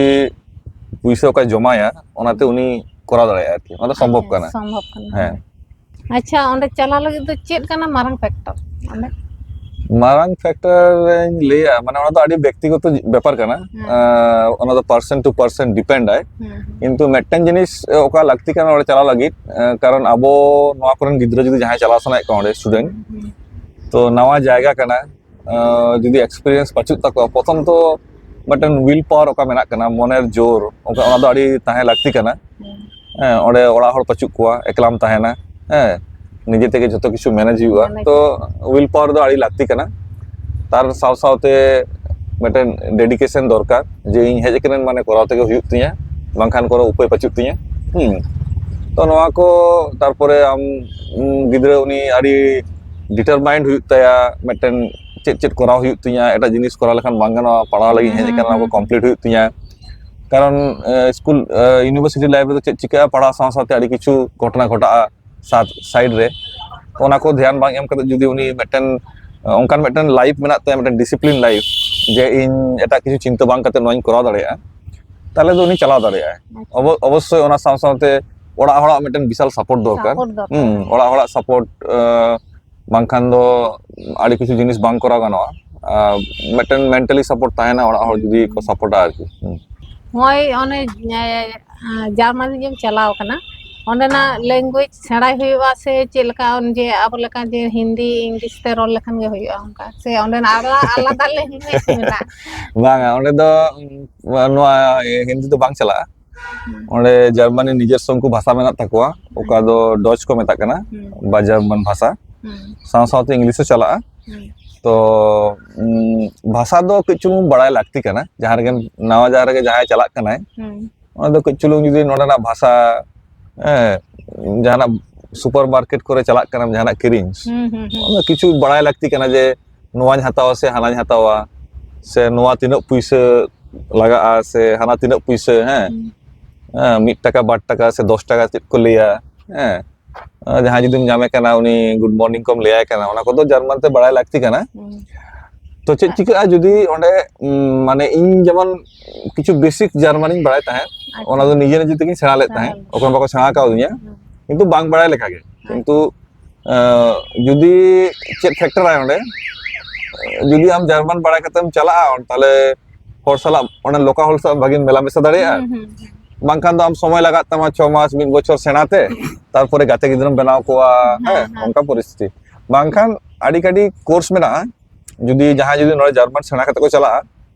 ᱯᱩᱭᱥᱟᱹ ᱚᱠᱟᱭ ᱡᱚᱢᱟᱭᱟ ᱚᱱᱟᱛᱮ ᱩᱱᱤ ᱠᱚᱨᱟᱣ ᱫᱟᱲᱮᱭᱟᱜᱼᱟ ᱟᱨᱠᱤ ᱚᱱᱟ ᱫᱚ ᱥᱚᱢᱵᱷᱚᱵ ᱠᱟᱱᱟ ᱥᱚᱢᱵᱷᱚᱵ ᱠᱟᱱᱟ ᱦᱮᱸ ᱟᱪᱪᱷᱟ ᱚᱸᱰᱮ ᱪᱟᱞᱟᱣ ᱞᱟᱹᱜᱤᱫ ᱫᱚ ᱪᱮᱫ ᱠᱟᱱᱟ ᱢᱟᱨᱟᱝ ᱯᱷᱮᱠᱴᱚᱨ ᱚᱸᱰᱮ ᱢᱟᱨᱟᱝ ᱯᱷᱮᱠᱴᱚᱨ ᱤᱧ ᱞᱟᱹᱭᱟ ᱢᱟᱱᱮ ᱚᱱᱟ ᱫᱚ ᱟᱹᱰᱤ ᱵᱮᱠᱛᱤᱜᱚᱛᱚ ᱵᱮᱯᱟᱨ ᱠᱟᱱᱟ ᱚᱱᱟ ᱫᱚ ᱯᱟᱨᱥᱮᱱ ᱴᱩ ᱯᱟᱨᱥᱮᱱ ᱰᱤᱯᱮᱱᱰ ᱟᱭ ᱠᱤᱱᱛᱩ ᱢᱤᱫᱴᱮᱱ ᱡᱤᱱᱤᱥ ᱚᱠᱟ ᱞᱟᱹᱠᱛᱤ ᱠᱟᱱᱟ ᱚᱸᱰᱮ ᱪᱟᱞᱟᱣ ᱞᱟᱹᱜᱤᱫ ᱠᱟᱨᱚᱱ ᱟᱵᱚ ᱱᱚᱣᱟ ᱠᱚᱨᱮᱱ ᱜᱤᱫᱽᱨᱟᱹ ᱡᱩᱫᱤ ᱡᱟᱦᱟᱸᱭ ᱪᱟᱞᱟᱣ ᱥᱟᱱᱟᱭᱮᱫ ᱠᱚᱣᱟ ᱚᱸᱰᱮ ᱥᱴᱩᱰᱮᱱᱴ ᱛᱚ ᱱᱟᱣᱟ ᱡᱟᱭᱜᱟ ᱠᱟᱱᱟ ᱡᱩᱫᱤ ᱮᱠᱥᱯᱮᱨᱤᱭᱮᱱᱥ ᱯᱟᱪᱩᱜ ᱛᱟᱠᱚᱣᱟ ᱯᱨᱚᱛᱷᱚᱢ ᱛᱚ ᱢᱤᱫᱴᱮᱱ ᱩᱭᱤᱞ ᱯᱟᱣᱟᱨ ᱚᱠᱟ ᱢᱮᱱᱟᱜ ᱠᱟᱱᱟ ᱢᱚᱱᱮᱨ ᱡᱳᱨ ᱚᱱᱠᱟ ᱚᱱᱟ ᱫᱚ ᱟᱹᱰᱤ ᱛᱟᱦᱮᱸ ᱞᱟᱹᱠᱛᱤ ᱠᱟᱱᱟ ᱦᱮᱸ ᱚᱸᱰᱮ ᱚᱲᱟᱜ ᱦᱚᱲ ᱯᱟᱪᱩᱜ ᱠᱚᱣᱟ ᱮᱠᱞᱟᱢ ᱛᱟᱦᱮᱱᱟ ᱦᱮᱸ ᱱᱤᱡᱮ ᱛᱮᱜᱮ ᱡᱚᱛᱚ ᱠᱤᱪᱷᱩ ᱢᱮᱱᱮᱡ ᱦᱩᱭᱩᱜᱼᱟ ᱛᱚ ᱩᱭᱤᱞ ᱯᱟᱣᱟᱨ ᱫᱚ ᱟᱹᱰᱤ ᱞᱟᱹᱠᱛᱤ ᱠᱟᱱᱟ ᱛᱟᱨ ᱥᱟᱶ ᱥᱟᱶᱛᱮ ᱢᱤᱫᱴᱮᱱ ᱰᱮᱰᱤᱠᱮᱥᱚᱱ ᱫᱚᱨᱠᱟᱨ ᱡᱮ ᱤᱧ ᱦᱮᱡ ᱟᱠᱟᱱᱟᱹᱧ ᱢᱟᱱᱮ ᱠᱚᱨᱟᱣ ᱛᱮᱜᱮ ᱦᱩᱭᱩᱜ ᱛᱤᱧᱟᱹ ᱵᱟᱝᱠᱷᱟᱱ ᱠᱳᱱᱳ ᱩᱯᱟᱹᱭ ᱵᱟᱹᱪᱩᱜ ᱛᱤᱧᱟᱹ ᱦᱮᱸ ᱛᱚ ᱱᱚᱣᱟ ᱠᱚ ᱛᱟᱨᱯᱚᱨᱮ ᱟᱢ ᱜᱤᱫᱽᱨᱟᱹ ᱩᱱᱤ ᱟᱹᱰᱤ ᱰᱤᱴᱟᱨᱢᱟᱭᱤᱱᱰ ᱦᱩᱭᱩᱜ ᱛᱟᱭᱟ ᱢᱤᱫᱴᱮᱱ ᱪᱮᱫ ᱪᱮᱫ ᱠᱚᱨᱟᱣ ᱦᱩᱭᱩᱜ ᱛᱤᱧᱟᱹ ᱮᱴᱟᱜ ᱡᱤᱱᱤᱥ ᱠᱚᱨᱟᱣ ᱞᱮᱠᱷᱟᱱ ᱵᱟᱝ ᱜᱟᱱᱚᱜᱼᱟ ᱯᱟᱲᱦᱟᱣ ᱞᱟᱹᱜᱤᱫ ᱦᱮᱡ ᱟᱠᱟᱱᱟ ᱚᱱᱟ ᱠᱚ ᱠᱚᱢᱯᱞᱤᱴ ᱦᱩᱭᱩᱜ ᱛᱤᱧᱟᱹ ᱠᱟᱨᱚᱱ ᱥᱠᱩᱞ ᱤᱭᱩᱱᱤᱵᱷᱟᱨᱥᱤᱴᱤ ᱞᱟᱭᱤᱯᱷ ᱨᱮᱫᱚ ᱪᱮᱫ ᱪᱤᱠᱟᱹᱜᱼᱟ ᱯᱟᱲᱦᱟᱣ ᱥᱟᱶ ᱥᱟᱶᱛᱮ ᱟᱹᱰᱤ ᱠᱤᱪᱷᱩ ᱜᱷᱚᱴᱚᱱᱟ ᱜᱷᱚᱴᱟᱜᱼᱟ ᱥᱟᱭᱤᱰ ᱨᱮ ᱛᱚ ᱚᱱᱟ ᱠᱚ ᱫᱷᱮᱭᱟᱱ ᱵᱟᱝ ᱮᱢ ᱠᱟᱛᱮ ᱡᱩᱫᱤ ᱩᱱᱤ ᱢᱤᱫᱴᱮᱱ ᱚᱱᱠᱟᱱ ᱢᱤᱫᱴᱮᱱ ᱞᱟᱭᱤᱯᱷ ᱢᱮᱱᱟᱜ ᱛᱟᱭᱟ ᱢᱤᱫᱴᱮᱱ ᱰᱤᱥᱤᱯᱞᱤᱱ ᱞᱟᱭᱤᱯᱷ ᱡᱮ ᱤᱧ ᱮᱴᱟᱜ ᱠᱤᱪᱷᱩ ᱪᱤᱱᱛᱟᱹ ᱵᱟᱝ ᱠᱟᱛᱮ ᱱᱚᱣᱟᱧ ᱠᱚᱨᱟᱣ ᱫᱟᱲᱮᱭᱟᱜᱼᱟ ᱛᱟᱦᱚᱞᱮ ᱫᱚ ᱩᱱᱤ ᱪᱟᱞᱟᱣ ᱫᱟᱲᱮᱭᱟᱜᱼᱟᱭ ᱚᱵᱚᱥᱥᱳᱭ ᱚᱱᱟ ᱥᱟᱶ ᱥᱟᱶᱛᱮ ᱚᱲᱟᱜ ᱦᱚᱲᱟᱜ ᱢᱤᱫᱴᱮᱱ ᱵᱤᱥᱟᱞ ᱥᱟᱯᱳᱨᱴ ᱫᱚᱨᱠᱟᱨ ᱚᱲᱟᱜ ᱦᱚᱲᱟᱜ ᱥᱟᱯᱳᱨᱴ ᱵᱟᱝᱠᱷᱟᱱ ᱫᱚ ᱟᱹᱰᱤ ᱠᱤᱪᱷᱩ ᱡᱤᱱᱤᱥ ᱵᱟᱝ ᱠᱚᱨᱟᱣ ᱜᱟᱱᱚᱜᱼᱟ ᱢᱤᱫᱴᱮᱱ ᱢᱮᱱᱴᱟᱞᱤ ᱥᱟᱯᱳᱨᱴ ᱛᱟᱦᱮᱱᱟ ᱚᱲᱟᱜ ᱦᱚᱲ ᱡᱩᱫᱤ ᱠᱚ ᱥᱟᱯᱳᱨᱴᱟ ᱟᱨᱠᱤ ᱱᱚᱜᱼᱚᱭ ᱚᱱᱮ ᱡᱟᱨᱢᱟᱱᱤ ᱡᱮᱢ ᱪᱟᱞᱟᱣ ᱠᱟᱱᱟ ᱚᱸᱰᱮᱱᱟᱜ ᱞᱮᱝᱜᱩᱭᱮᱡᱽ ᱥᱮᱬᱟᱭ ᱦᱩᱭᱩᱜᱼᱟ ᱥᱮ ᱪᱮᱫ ᱞᱮᱠᱟ ᱡᱮ ᱟᱵᱚ ᱞᱮᱠᱟ ᱡᱮ ᱦᱤᱱᱫᱤ ᱤᱝᱞᱤᱥ ᱛᱮ ᱨᱚᱲ ᱞᱮᱠᱷᱟᱱ ᱜᱮ ᱦᱩᱭᱩᱜᱼᱟ ᱚᱱᱠᱟ ᱥᱮ ᱚᱸᱰᱮᱱᱟᱜ ᱟᱨᱚ ᱟᱞᱟᱫᱟ ᱞᱮᱝᱜᱩᱭᱮᱡᱽ ᱢᱮᱱᱟᱜᱼᱟ ᱵᱟᱝᱟ ᱚᱸᱰᱮ ᱫᱚ ᱱᱚᱣᱟ ᱦᱤᱱᱫᱤ ᱫᱚ ᱵᱟᱝ ᱪᱟᱞᱟᱜᱼᱟ ᱚᱸᱰᱮ ᱡᱟᱨᱢᱟᱱᱤ ᱱᱤᱡᱮᱨ ᱥᱚᱝᱠᱩ ᱵᱷᱟᱥᱟ ᱢᱮᱱᱟᱜ ᱛᱟᱠᱚᱣᱟ ᱚᱠᱟ ᱫᱚ ᱰᱚᱪ ᱠᱚ ᱢᱮᱛᱟᱜ ᱠᱟᱱᱟ ᱵᱟ ᱡᱟᱨᱢᱟᱱ ᱵᱷᱟᱥᱟ ᱥᱟᱶ ᱥᱟᱶᱛᱮ ᱤᱝᱞᱤᱥ ᱦᱚᱸ ᱪᱟᱞᱟᱜᱼᱟ ᱛᱚ ᱵᱷᱟᱥᱟ ᱫᱚ ᱠᱟᱹᱡ ᱪᱩᱞᱩᱝ ᱵᱟᱲᱟᱭ ᱞᱟᱹᱠᱛᱤ ᱠᱟᱱᱟ ᱡᱟᱦᱟᱸ ᱨᱮᱜᱮ ᱱᱟᱣᱟ ᱡᱟᱦᱟᱸ ᱨᱮᱜᱮ ᱡᱟᱦᱟᱸᱭ ᱪᱟᱞᱟᱜ ᱠᱟᱱᱟᱭ ᱚᱱᱟ ᱫᱚ ᱠᱟᱹᱡ ᱪᱩᱞᱩᱝ ᱡᱩᱫᱤ ᱱᱚᱰᱮᱱᱟᱜ ᱵᱷᱟᱥᱟ ᱦᱮᱸ ᱡᱟᱦᱟᱱᱟᱜ ᱥᱩᱯᱟᱨ ᱢᱟᱨᱠᱮᱴ ᱠᱚᱨᱮ ᱪᱟᱞᱟᱜ ᱠᱟᱱᱟᱢ ᱡᱟᱦᱟᱱᱟᱜ ᱠᱤᱨᱤᱧ ᱚᱱᱟ ᱠᱤᱪᱷᱩ ᱵᱟᱲᱟᱭ ᱞᱟᱹᱠᱛᱤ ᱠᱟᱱᱟ ᱡᱮ ᱱᱚᱣᱟᱧ ᱦᱟᱛᱟᱣᱟ ᱥᱮ ᱦᱟᱱᱟᱧ ᱦᱟᱛᱟᱣᱟ ᱥᱮ ᱱᱚᱣᱟ ᱛᱤᱱᱟᱹᱜ ᱯᱩᱭᱥᱟᱹ ᱞᱟᱜᱟᱜᱼᱟ ᱥᱮ ᱦᱟᱱᱟ ᱛᱤᱱᱟᱹᱜ ᱯᱩᱭᱥᱟᱹ ᱦᱮᱸ ᱦᱮᱸ ᱢᱤᱫ ᱴᱟᱠᱟ ᱵᱟᱨ ᱴᱟᱠᱟ ᱥᱮ ᱫᱚᱥ ᱴᱟᱠᱟ ᱪᱮᱫ ᱠᱚ ᱞᱟᱹᱭᱟ ᱦᱮᱸ ᱡᱟᱦᱟᱸᱭ ᱡᱩᱫᱤᱢ ᱧᱟᱢᱮ ᱠᱟᱱᱟ ᱩᱱᱤ ᱜᱩᱰ ᱢᱚᱨᱱᱤᱝ ᱠᱚᱢ ᱞᱟᱹᱭᱟᱭ ᱠᱟᱱᱟ ᱚᱱᱟ ᱠᱚᱫᱚ ᱡᱟᱨᱢᱟᱱ ᱛᱮ ᱵᱟᱲᱟᱭ ᱞᱟᱹᱠᱛᱤ ᱠᱟᱱᱟ ᱛᱚ ᱪᱮᱫ ᱪᱤᱠᱟᱹᱜᱼᱟ ᱡᱩᱫᱤ ᱚᱸᱰᱮ ᱢᱟᱱᱮ ᱤᱧ ᱡᱮᱢᱚᱱ ᱠᱤᱪᱷᱩ ᱵᱮᱥᱤᱠ ᱡᱟᱨᱢᱟᱱᱤᱧ ᱵᱟᱲᱟᱭ ᱛᱟᱦᱮᱸᱫ ᱚᱱᱟ ᱫᱚ ᱱᱤᱡᱮ ᱱᱤᱡᱮ ᱛᱮᱜᱤᱧ ᱥᱮᱬᱟ ᱞᱮᱫ ᱛᱟᱦᱮᱸᱫ ᱚᱠᱚᱭ ᱵᱟᱠᱚ ᱥᱮᱬᱟ ᱠᱟᱣᱫᱤᱧᱟ ᱠᱤᱱᱛᱩ ᱵᱟᱝ ᱵᱟᱲᱟᱭ ᱞᱮᱠᱟᱜᱮ ᱠᱤᱱᱛᱩ ᱡᱩᱫᱤ ᱪᱮᱫ ᱯᱷᱮᱠᱴᱚᱨᱟᱭ ᱚᱸᱰᱮ ᱡᱩᱫᱤ ᱟᱢ ᱡᱟᱨᱢᱟᱱ ᱵᱟᱲᱟᱭ ᱠᱟᱛᱮᱢ ᱪᱟᱞᱟᱜᱼᱟ ᱛᱟᱦᱚᱞᱮ ᱦᱚᱲ ᱥᱟᱞᱟᱜ ᱚᱸᱰᱮ ᱞᱳᱠᱟᱞ ᱦᱚᱲ ᱥᱟᱞᱟᱜ ᱵᱷᱟᱜᱤᱢ ᱢᱮᱞᱟ ᱢᱮᱥᱟ ᱫᱟᱲᱮᱭᱟᱜᱼᱟ ᱵᱟᱝᱠᱷᱟᱱ ᱫᱚ ᱟᱢ ᱥᱚᱢᱚᱭ ᱞᱟᱜᱟᱜ ᱛᱟᱢᱟ ᱪᱷᱚ ᱢᱟᱥ ᱢᱤᱫ ᱵᱚᱪᱷᱚᱨ ᱥᱮᱬᱟᱛᱮ ᱛᱟᱨᱯᱚᱨᱮ ᱜᱟᱛᱮ ᱜᱤᱫᱽᱨᱟᱹᱢ ᱵᱮᱱᱟᱣ ᱠᱚᱣᱟ ᱦᱮᱸ ᱚᱱᱠᱟ ᱯᱚᱨᱤᱥᱛᱷᱤᱛᱤ ᱵᱟᱝᱠᱷᱟᱱ ᱟᱹᱰᱤ ᱠᱟᱹᱰᱤ ᱠᱳᱨᱥ ᱢᱮᱱᱟᱜᱼᱟ ᱡᱩᱫᱤ ᱡᱟᱦᱟᱸᱭ ᱡᱩᱫᱤ ᱱᱚᱰᱮ ᱡᱟᱨᱢᱟᱱ ᱥᱮᱬᱟ ᱠᱟᱛᱮ ᱠᱚ ᱪᱟᱞᱟᱜᱼᱟ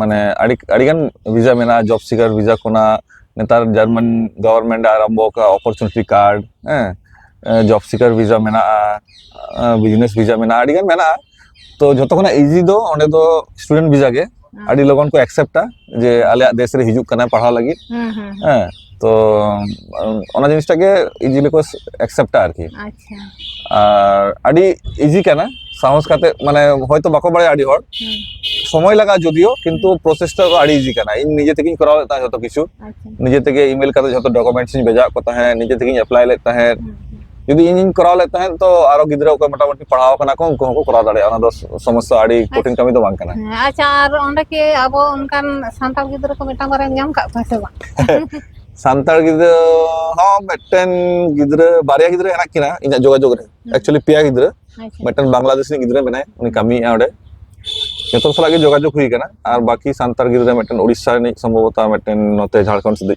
ᱢᱟᱱᱮ ᱟᱹᱰᱤ ᱟᱹᱰᱤᱜᱟᱱ ᱵᱷᱤᱥᱟ ᱢᱮᱱᱟᱜᱼᱟ ᱡᱚᱵ ᱥᱤᱠᱟᱨ ᱵᱷᱤᱥᱟ ᱠᱷᱚᱱᱟᱜ ᱱᱮᱛᱟᱨ ᱡᱟᱨᱢᱟᱱ ᱜᱚᱵᱷᱚᱨᱱᱢᱮᱱᱴ ᱟᱨᱟᱢᱵᱚ ᱟᱠᱟᱫ ᱚᱯᱚᱨᱪᱩᱱᱤᱴᱤ ᱠᱟᱨᱰ ᱦᱮᱸ ᱡᱚᱵ ᱥᱤᱠᱟᱨ ᱵᱷᱤᱥᱟ ᱢᱮᱱᱟᱜᱼᱟ ᱵᱤᱡᱽᱱᱮᱥ ᱵᱷᱤᱥᱟ ᱢᱮᱱᱟᱜᱼᱟ ᱟᱹᱰᱤᱜᱟᱱ ᱢᱮᱱᱟᱜᱼᱟ ᱛᱚ ᱡᱷᱚᱛᱚ ᱠᱷᱚᱱᱟᱜ ᱤᱡᱤ ᱫᱚ ᱚᱸᱰᱮ ᱫᱚ ᱥᱴᱩᱰᱮᱱᱴ ᱵᱷᱤᱥᱟ ᱜᱮ ᱟᱹᱰᱤ ᱞᱚᱜᱚᱱ ᱠᱚ ᱮᱠᱥᱮᱯᱴᱟ ᱡᱮ ᱟᱞᱮᱭᱟᱜ ᱫᱮᱥ ᱨᱮ ᱦᱤᱡᱩᱜ ᱠᱟᱱᱟ ᱯᱟᱲᱦᱟᱣ ᱞᱟᱹᱜᱤᱫ ᱦᱮᱸ ᱛᱚ ᱚᱱᱟ ᱡᱤᱱᱤᱥᱴᱟᱜ ᱜᱮ ᱤᱡᱤᱞᱤ ᱠᱚ ᱮᱠᱥᱮᱯᱴᱟ ᱟᱨᱠᱤ ᱟᱨ ᱟᱹᱰᱤ ᱤᱡᱤ ᱠᱟᱱᱟ ᱥᱟᱦᱚᱥ ᱠᱟᱛᱮ ᱢᱟᱱᱮ ᱦᱚᱭᱛᱚ ᱵᱟᱠᱚ ᱵᱟᱲᱟᱭᱟ ᱟᱹᱰᱤ ᱦᱚᱲ ᱥᱚᱢᱚᱭ ᱞᱟᱜᱟᱜᱼᱟ ᱡᱚᱫᱤᱭᱳ ᱠᱤᱱᱛᱩ ᱯᱨᱚᱥᱮᱥᱴᱟ ᱫᱚ ᱟᱹᱰᱤ ᱤᱡᱤ ᱠᱟᱱᱟ ᱤᱧ ᱱᱤᱡᱮ ᱛᱮᱜᱮᱧ ᱠᱚᱨᱟᱣ ᱞᱮᱫ ᱛᱟᱦᱮᱸᱫ ᱡᱚᱛᱚ ᱠᱤᱪᱷᱩ ᱱᱤᱡᱮ ᱛᱮᱜᱮ ᱤᱢᱮᱞ ᱠᱟᱛᱮ ᱡᱚᱛᱚ ᱰᱚᱠᱩᱢᱮᱱᱴᱥ ᱤᱧ ᱵᱷᱮᱡᱟᱣᱟᱫ ᱠᱚ ᱛᱟᱦᱮᱸᱫ ᱱᱤᱡᱮ ᱛᱮᱜᱮᱧ ᱮᱯᱞᱟᱭ ᱞᱮᱫ ᱛᱟᱦᱮᱸᱫ ᱡᱩᱫᱤ ᱤᱧᱤᱧ ᱠᱚᱨᱟᱣ ᱞᱮᱫ ᱛᱟᱦᱮᱸᱫ ᱛᱚ ᱟᱨᱚ ᱜᱤᱫᱽᱨᱟᱹ ᱚᱠᱚᱭ ᱢᱚᱴᱟᱢᱩᱴᱤ ᱯᱟᱲᱦᱟᱣ ᱠᱟᱱᱟ ᱠᱚ ᱩᱱᱠᱩ ᱦᱚᱸᱠᱚ ᱠᱚᱨᱟᱣ ᱫᱟᱲᱮᱭᱟᱜᱼᱟ ᱚᱱᱟ ᱫᱚ ᱥᱚᱢᱚᱥᱥᱟ ᱟᱹᱰᱤ ᱠᱚᱴᱷᱤᱱ ᱠᱟᱹᱢᱤ ᱫᱚ ᱵᱟᱝ ᱠᱟᱱᱟ ᱟᱪᱪᱷᱟ ᱟᱨ ᱚᱸᱰᱮ ᱠᱤ ᱟᱵᱚ ᱚᱱᱠᱟᱱ ᱥᱟᱱᱛᱟᱲ ᱜᱤᱫᱽᱨᱟᱹ ᱠᱚ ᱢᱤᱫᱴᱟᱝ ᱵᱟᱨᱭᱟᱢ ᱧᱟᱢ ᱠᱟᱜ ᱠᱚᱣᱟ ᱥᱮ ᱵᱟᱝ ᱥᱟᱱᱛᱟᱲ ᱜᱤᱫᱽᱨᱟᱹ ᱦᱚᱸ ᱢᱤᱫᱴᱮᱱ ᱜᱤᱫᱽᱨᱟᱹ ᱵᱟᱨᱭᱟ ᱜᱤᱫᱽᱨᱟᱹ ᱦᱮᱱᱟᱜ ᱠᱤᱱᱟ ᱤᱧᱟᱹᱜ ᱡᱳᱜᱟᱡᱳᱜᱽ ᱨᱮ ᱮᱠᱪᱩᱭᱮᱞᱤ ᱯᱮᱭᱟ ᱜᱤᱫᱽᱨᱟᱹ ᱢᱤᱫᱴᱮᱱ ᱵᱟᱝᱞᱟᱫᱮᱥ ᱨᱤᱱᱤᱡ ᱜᱤᱫᱽᱨᱟᱹ ᱢᱮᱱᱟᱭᱟ ᱩᱱᱤ ᱠᱟᱹᱢᱤᱭᱮᱫᱼᱟ ᱚᱸᱰᱮ ᱡᱚᱛᱚ ᱥᱟᱞᱟᱜ ᱜᱮ ᱡᱳᱜᱟᱡᱳᱜᱽ ᱦᱩᱭ ᱟᱠᱟᱱᱟ ᱟᱨ ᱵᱟᱹᱠᱤ ᱥᱟᱱᱛᱟᱲ ᱜᱤᱫᱽᱨᱟᱹ ᱢᱤᱫᱴᱮᱱ ᱩᱲᱤᱥᱥᱟ ᱨᱤᱱᱤᱡ ᱥᱚᱢᱵᱷᱚᱵᱚᱛᱟ ᱢᱤᱫᱴᱮᱱ ᱱᱚᱛᱮ ᱡᱷᱟᱲᱠᱷᱚᱸᱰ ᱥᱮᱫ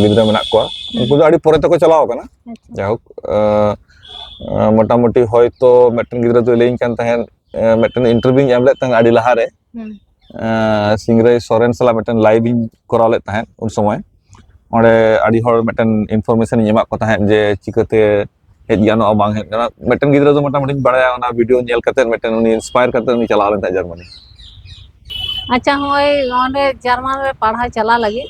ᱜᱤᱫᱽᱨᱟᱹ ᱢᱮᱱᱟᱜ ᱠᱚᱣᱟ ᱩᱱᱠᱩ ᱫᱚ ᱟᱹᱰᱤ ᱯᱚᱨᱮ ᱛᱮᱠᱚ ᱪᱟᱞᱟᱣ ᱟᱠᱟᱱᱟ ᱡᱟᱭᱦᱳᱠ ᱢᱚᱴᱟᱢᱩᱴᱤ ᱦᱚᱭᱛᱚ ᱢᱤᱫᱴᱮᱱ ᱜᱤᱫᱽᱨᱟᱹ ᱫᱚᱭ ᱞᱟᱹᱭᱟᱹᱧ ᱠᱟᱱ ᱛᱟᱦᱮᱸᱫ ᱢᱤᱫᱴᱮᱱ ᱤᱱᱴᱟᱨᱵᱷᱤᱭᱩᱧ ᱮᱢ ᱞᱮᱫ ᱛᱟᱦᱮᱸᱫ ᱟᱹᱰᱤ ᱞᱟᱦᱟᱨᱮ ᱥᱤᱝᱨᱟᱹᱭ ᱥᱚᱨᱮᱱ ᱥᱟᱞᱟᱜ ᱢᱤᱫᱴᱮᱱ ᱞᱟᱭᱤᱵᱷ ᱤᱧ ᱠᱚᱨᱟᱣ ᱞᱮᱫ ᱛᱟᱦᱮᱸᱫ ᱩᱱ ᱥᱚᱢᱚᱭ ᱚᱸᱰᱮ ᱟᱹᱰᱤ ᱦᱚᱲ ᱢᱤᱫᱴᱮᱱ ᱤᱱᱯᱷᱚᱨᱢᱮᱥᱚᱱ ᱤᱧ ᱮᱢᱟᱫ ᱠᱚ ᱛᱟᱦᱮᱸᱫ ᱡᱮ ᱪᱤᱠᱟᱹᱛᱮ ᱦᱮᱡ ᱜᱟᱱᱚᱜᱼᱟ ᱵᱟᱝ ᱦᱮᱡ ᱜᱟᱱᱚᱜᱼᱟ ᱢᱤᱫᱴᱮᱱ ᱜᱤᱫᱽᱨᱟᱹ ᱫᱚ ᱢᱚᱴᱟᱢᱩᱴᱤᱧ ᱵᱟᱲᱟᱭᱟ ᱚᱱᱟ ᱵᱷᱤᱰᱤᱭᱳ ᱧᱮᱞ ᱠᱟᱛᱮ ᱢᱤᱫᱴᱮᱱ ᱩᱱᱤ ᱤᱱᱥᱯᱟᱭᱟᱨ ᱠᱟᱛᱮ ᱩᱱᱤ ᱪᱟᱞᱟᱣ ᱞᱮᱱ ᱛᱟᱦᱮᱸᱫ ᱡᱟᱨᱢᱟᱱᱤ ᱟᱪᱪᱷᱟ ᱦᱚᱸᱜᱼᱚᱭ ᱚᱸᱰᱮ ᱡᱟᱨᱢᱟᱱ ᱨᱮ ᱯᱟᱲᱦᱟᱣ ᱪᱟᱞᱟᱜ ᱞᱟᱹᱜᱤᱫ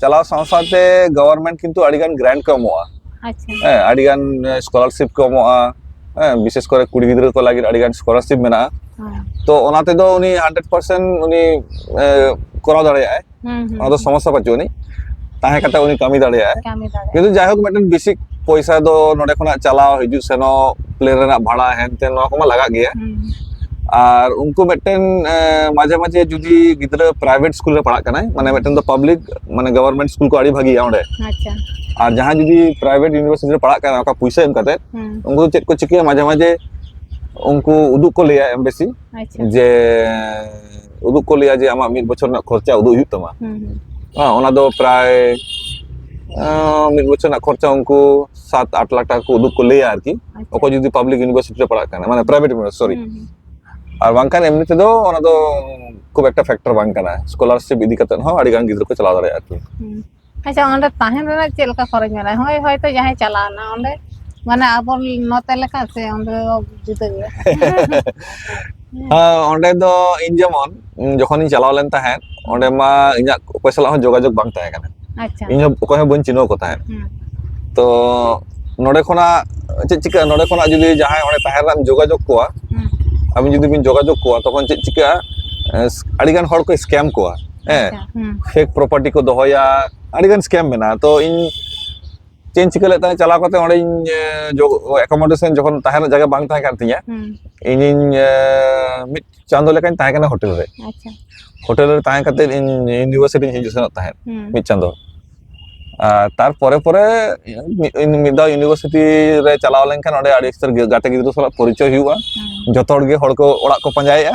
ᱪᱟᱞᱟᱣ ᱥᱟᱶ ᱥᱟᱶᱛᱮ ᱜᱚᱵᱷᱚᱨᱢᱮᱱᱴ ᱠᱤᱱᱛᱩ ᱟᱹᱰᱤ ᱜᱟᱱ ᱜᱨᱟᱱᱴ ᱠᱚ ᱮᱢᱚᱜᱼᱟ ᱟᱪᱪᱷᱟ ᱦᱮᱸ ᱟᱹᱰᱤ ᱜᱟᱱ ᱥᱠᱚᱞᱟᱨᱥᱤᱯ ᱠᱚ ᱮᱢᱚᱜᱼᱟ ᱦᱮᱸ ᱵᱤᱥᱮᱥ ᱠᱚᱨᱮ ᱠᱩᱲᱤ ᱜᱤᱫᱽᱨᱟᱹ ᱠᱚ ᱞᱟᱹᱜᱤᱫ ᱟᱹᱰᱤ ᱜᱟᱱ ᱥᱠᱚᱞᱟᱨᱥᱤᱯ ᱢᱮᱱᱟᱜᱼᱟ ᱦᱮᱸ ᱛᱚ ᱚᱱᱟ ᱛᱮᱫᱚ ᱩᱱᱤ ᱦᱟᱱᱰᱨᱮᱰ ᱯᱟᱨᱥᱮᱱᱴ ᱩᱱᱤ ᱮᱸ, ᱠᱚᱨᱟᱣ ᱫᱟᱲᱮᱭᱟᱜᱼᱟᱭ ᱦᱩᱸ ᱦᱩᱸ ᱚᱱᱟ ᱫᱚ ᱥᱚᱢᱚᱥᱥᱟ ᱵᱟᱹᱪᱩᱜ ᱟᱹᱱᱤᱡ ᱛᱟᱦᱮᱸ ᱠᱟᱛᱮ ᱩᱱᱤ ᱠᱟᱹᱢᱤ ᱫᱟᱲᱮᱭᱟᱜᱼᱟᱭ ᱠᱟᱹᱢᱤ ᱫᱟᱲᱮᱭᱟᱜᱼᱟ ᱠᱤᱱᱛᱩ ᱡᱟᱭᱦᱳᱠ ᱢᱤᱫᱴᱮᱱ ᱵᱮᱥᱤᱠ ᱯᱚᱭᱥᱟ ᱫᱚ ᱱᱚᱰᱮ ᱠᱷᱚᱱᱟᱜ ᱪᱟᱞᱟᱣ ᱦᱤᱡᱩᱜ ᱥᱮᱱᱚᱜ ᱯᱞᱮᱱ ᱨᱮᱱᱟᱜ ᱵᱷᱟᱲᱟ ᱦᱮᱱᱛᱮᱱ ᱱᱚᱣᱟ ᱠᱚᱢᱟ ᱞᱟᱜᱟᱜ ᱜᱮᱭᱟ ᱦᱩᱸ ᱟᱨ ᱩᱱᱠᱩ ᱢᱤᱫᱴᱮᱱ ᱢᱟᱡᱷᱮ ᱢᱟᱡᱷᱮ ᱡᱩᱫᱤ ᱜᱤᱫᱽᱨᱟᱹ ᱯᱨᱟᱭᱵᱷᱮᱴ ᱥᱠᱩᱞ ᱨᱮ ᱯᱟᱲᱦᱟᱜ ᱠᱟᱱᱟᱭ ᱢᱟᱱᱮ ᱢᱤᱫᱴᱮᱱ ᱫᱚ ᱯᱟᱵᱽᱞᱤᱠ ᱢᱟᱱᱮ ᱜᱚᱵᱷᱚᱨᱢᱮᱱᱴ ᱥᱠᱩᱞ ᱠᱚ ᱟᱹᱰᱤ ᱵᱷᱟᱜᱮᱭᱟ ᱚᱸᱰᱮ ᱟᱪᱪᱷᱟ ᱟᱨ ᱡᱟᱦᱟᱸᱭ ᱡᱩᱫᱤ ᱯᱨᱟᱭᱵᱷᱮᱴ ᱤᱭᱩᱱᱤᱵᱷᱟᱨᱥᱤᱴᱤ ᱨᱮ ᱯᱟᱲᱦᱟᱜ ᱠᱟᱱᱟ ᱚᱠᱟ ᱯᱩᱭᱥᱟᱹ ᱮᱢ ᱠᱟᱛᱮ ᱩᱱᱠᱩ ᱫᱚ ᱪᱮᱫ ᱠᱚ ᱪᱤᱠᱟᱹᱭᱟ ᱢᱟᱡᱷᱮ ᱢᱟᱡᱷᱮ ᱩᱱᱠᱩ ᱩᱫᱩᱜ ᱠᱚ ᱞᱟᱹᱭᱟ ᱮᱢᱵᱮᱥᱤ ᱡᱮ ᱩᱫᱩᱜ ᱠᱚ ᱞᱟᱹᱭᱟ ᱡᱮ ᱟᱢᱟᱜ ᱢᱤᱫ ᱵᱚᱪᱷᱚᱨ ᱨᱮᱱᱟᱜ ᱠᱷᱚᱨᱪᱟ ᱩᱫᱩᱜ ᱦᱩᱭᱩᱜ ᱛᱟᱢᱟ ᱚᱱᱟ ᱫᱚ ᱯᱨᱟᱭ ᱢᱤᱫ ᱵᱚᱪᱷᱚᱨ ᱨᱮᱱᱟᱜ ᱠᱷᱚᱨᱪᱟ ᱩᱱᱠᱩ ᱥᱟᱛ ᱟᱴ ᱞᱟᱠᱷ ᱴᱟᱠᱟ ᱠᱚ ᱩᱫᱩᱜ ᱠᱚ ᱞᱟᱹᱭᱟ ᱟᱨᱠᱤ ᱚᱠᱚᱭ ᱡᱩᱫᱤ ᱯᱟᱵᱽᱞᱤᱠ ᱤᱭᱩᱱᱤᱵᱷᱟᱨᱥᱤᱴᱤ ᱨᱮ ᱯᱟᱲᱦᱟᱜ ᱠᱟᱱᱟ ᱢᱟᱱᱮ ᱯᱨᱟᱭᱵᱷᱮᱴ ᱤᱭᱩᱱᱤᱵᱷᱟᱨᱥᱤᱴᱤ ᱥᱚᱨᱤ ᱟᱨ ᱵᱟᱝᱠᱷᱟᱱ ᱮᱢᱱᱤ ᱛᱮᱫᱚ ᱚᱱᱟ ᱫᱚ ᱠᱷᱩᱵ ᱮᱠᱴᱟ ᱯᱷᱮᱠᱴᱚᱨ ᱵᱟᱝ ᱠᱟᱱᱟ ᱥᱠᱚᱞᱟᱨᱥᱤᱯ ᱤᱫᱤ ᱠᱟᱛᱮ ᱦᱚᱸ ᱟᱹᱰᱤ ᱜᱟᱱ ᱜᱤᱫᱽᱨᱟᱹ ᱠᱚ ᱪᱟᱞᱟᱣ ᱫᱟᱲᱮᱭᱟᱜᱼᱟ ᱟᱨᱠᱤ ᱟᱪᱪᱷᱟ ᱚᱸᱰᱮ ᱛᱟᱦᱮᱱ ᱨᱮᱱᱟᱜ ᱪᱮᱫ ᱞᱮᱠᱟ ᱠᱷᱚᱨᱚᱪ ᱢᱮᱱᱟᱜᱼᱟ ᱦᱳᱭ ᱦᱚᱭᱛᱚ ᱡᱟᱦᱟᱸᱭ ᱪᱟᱞᱟᱣᱱᱟ ᱚᱸᱰᱮ ᱢᱟᱱᱮ ᱟᱵᱚ ᱱᱚᱛᱮ ᱞᱮᱠᱟ ᱥᱮ ᱚᱸᱰᱮ ᱫᱚ ᱡᱩᱫᱟᱹ ᱜᱮᱭᱟ ᱚᱸᱰᱮ ᱫᱚ ᱤᱧ ᱡᱮᱢᱚᱱ ᱡᱚᱠᱷᱚᱱᱤᱧ ᱪᱟᱞᱟᱣ ᱞᱮᱱ ᱛᱟᱦᱮᱸᱫ ᱚᱸᱰᱮ ᱢᱟ ᱤᱧᱟᱹᱜ ᱚᱠᱚᱭ ᱥᱟᱞᱟᱜ ᱦᱚᱸ ᱡᱳᱜᱟᱡᱳᱜ ᱵᱟᱝ ᱛᱟᱦᱮᱸ ᱠᱟᱱᱟ ᱟᱪᱪᱷᱟ ᱤᱧ ᱦᱚᱸ ᱚᱠᱚᱭ ᱦᱚᱸ ᱵᱟᱹᱧ ᱪᱤᱱᱦᱟᱹᱣ ᱠᱚ ᱛᱟᱦᱮᱸᱫ ᱛᱚ ᱱᱚᱰᱮ ᱠᱷᱚᱱᱟᱜ ᱪᱮᱫ ᱪᱤᱠᱟᱹᱜᱼᱟ ᱱᱚᱰᱮ ᱠᱷᱚᱱᱟᱜ ᱡᱩᱫᱤ ᱡᱟᱦᱟᱸᱭ ᱚᱸᱰᱮ ᱛᱟᱦᱮᱸ ᱨᱮᱱᱟᱜ ᱮᱢ ᱡᱳᱜᱟᱡᱳᱜᱽ ᱠᱚᱣᱟ ᱟᱵᱤᱱ ᱡᱩᱫᱤ ᱵᱤᱱ ᱡᱳᱜᱟᱡᱳᱜᱽ ᱠᱚᱣᱟ ᱛᱚᱠᱷᱚᱱ ᱪᱮᱫ ᱪᱤᱠᱟᱹᱜᱼᱟ ᱟᱹᱰᱤᱜᱟᱱ ᱦᱚᱲ ᱠᱚ ᱥᱠᱮᱢ ᱠᱚᱣᱟ ᱦᱮᱸ ᱯᱷᱮᱠ ᱯᱨᱚᱯᱟᱨᱴᱤ ᱠᱚ ᱫᱚᱦᱚᱭᱟ ᱟᱹᱰᱤᱜᱟᱱ ᱥᱠᱮᱢ ᱢᱮᱱᱟᱜᱼᱟ ᱛᱚ ᱤᱧ ᱪᱮᱫ ᱤᱧ ᱪᱤᱠᱟᱹ ᱞᱮᱫ ᱛᱟᱦᱮᱸᱫ ᱪᱟᱞᱟᱣ ᱠᱟᱛᱮ ᱚᱸᱰᱮᱧ ᱮᱠᱳᱢᱳᱰᱮᱥᱚᱱ ᱡᱚᱠᱷᱚᱱ ᱛᱟᱦᱮᱸ ᱨᱮᱱᱟᱜ ᱡᱟᱭᱜᱟ ᱵᱟᱝ ᱛᱟᱦᱮᱸ ᱠᱟᱱ ᱛᱤᱧᱟ ᱤᱧᱤᱧ ᱢᱤᱫ ᱪᱟᱸᱫᱳ ᱞᱮᱠᱟᱧ ᱛᱟᱦᱮᱸ ᱠᱟᱱᱟ ᱦᱳᱴᱮᱞ ᱨᱮ ᱦᱳᱴᱮᱞ ᱨᱮ ᱛᱟᱦᱮᱸ ᱠᱟᱛᱮ ᱤᱧ ᱤᱭᱩᱱᱤᱵᱷᱟᱨᱥᱤᱴᱤᱧ ᱦᱤᱡᱩᱜ ᱥᱮᱱᱚᱜ ᱛᱟᱦᱮᱸᱫ ᱢᱤᱫ ᱪᱟᱸᱫᱳ ᱟᱨ ᱛᱟᱨᱯᱚᱨᱮ ᱯᱚᱨᱮ ᱢᱤᱫ ᱫᱷᱟᱣ ᱤᱭᱩᱱᱤᱵᱷᱟᱨᱥᱤᱴᱤ ᱨᱮ ᱪᱟᱞᱟᱣ ᱞᱮᱱᱠᱷᱟᱱ ᱚᱸᱰᱮ ᱟᱹᱰᱤ ᱩᱥᱛᱟᱹᱨ ᱜᱟᱛᱮ ᱜᱤᱫᱽᱨᱟᱹ ᱥᱟᱞᱟᱜ ᱯᱚᱨᱤᱪᱚᱭ ᱦᱩᱭᱩᱜᱼᱟ ᱡᱚᱛᱚ ᱦᱚᱲ ᱜᱮ ᱦᱚᱲ ᱠᱚ ᱚᱲᱟᱜ ᱠᱚ ᱯᱟᱸᱡᱟᱭᱮᱫᱼᱟ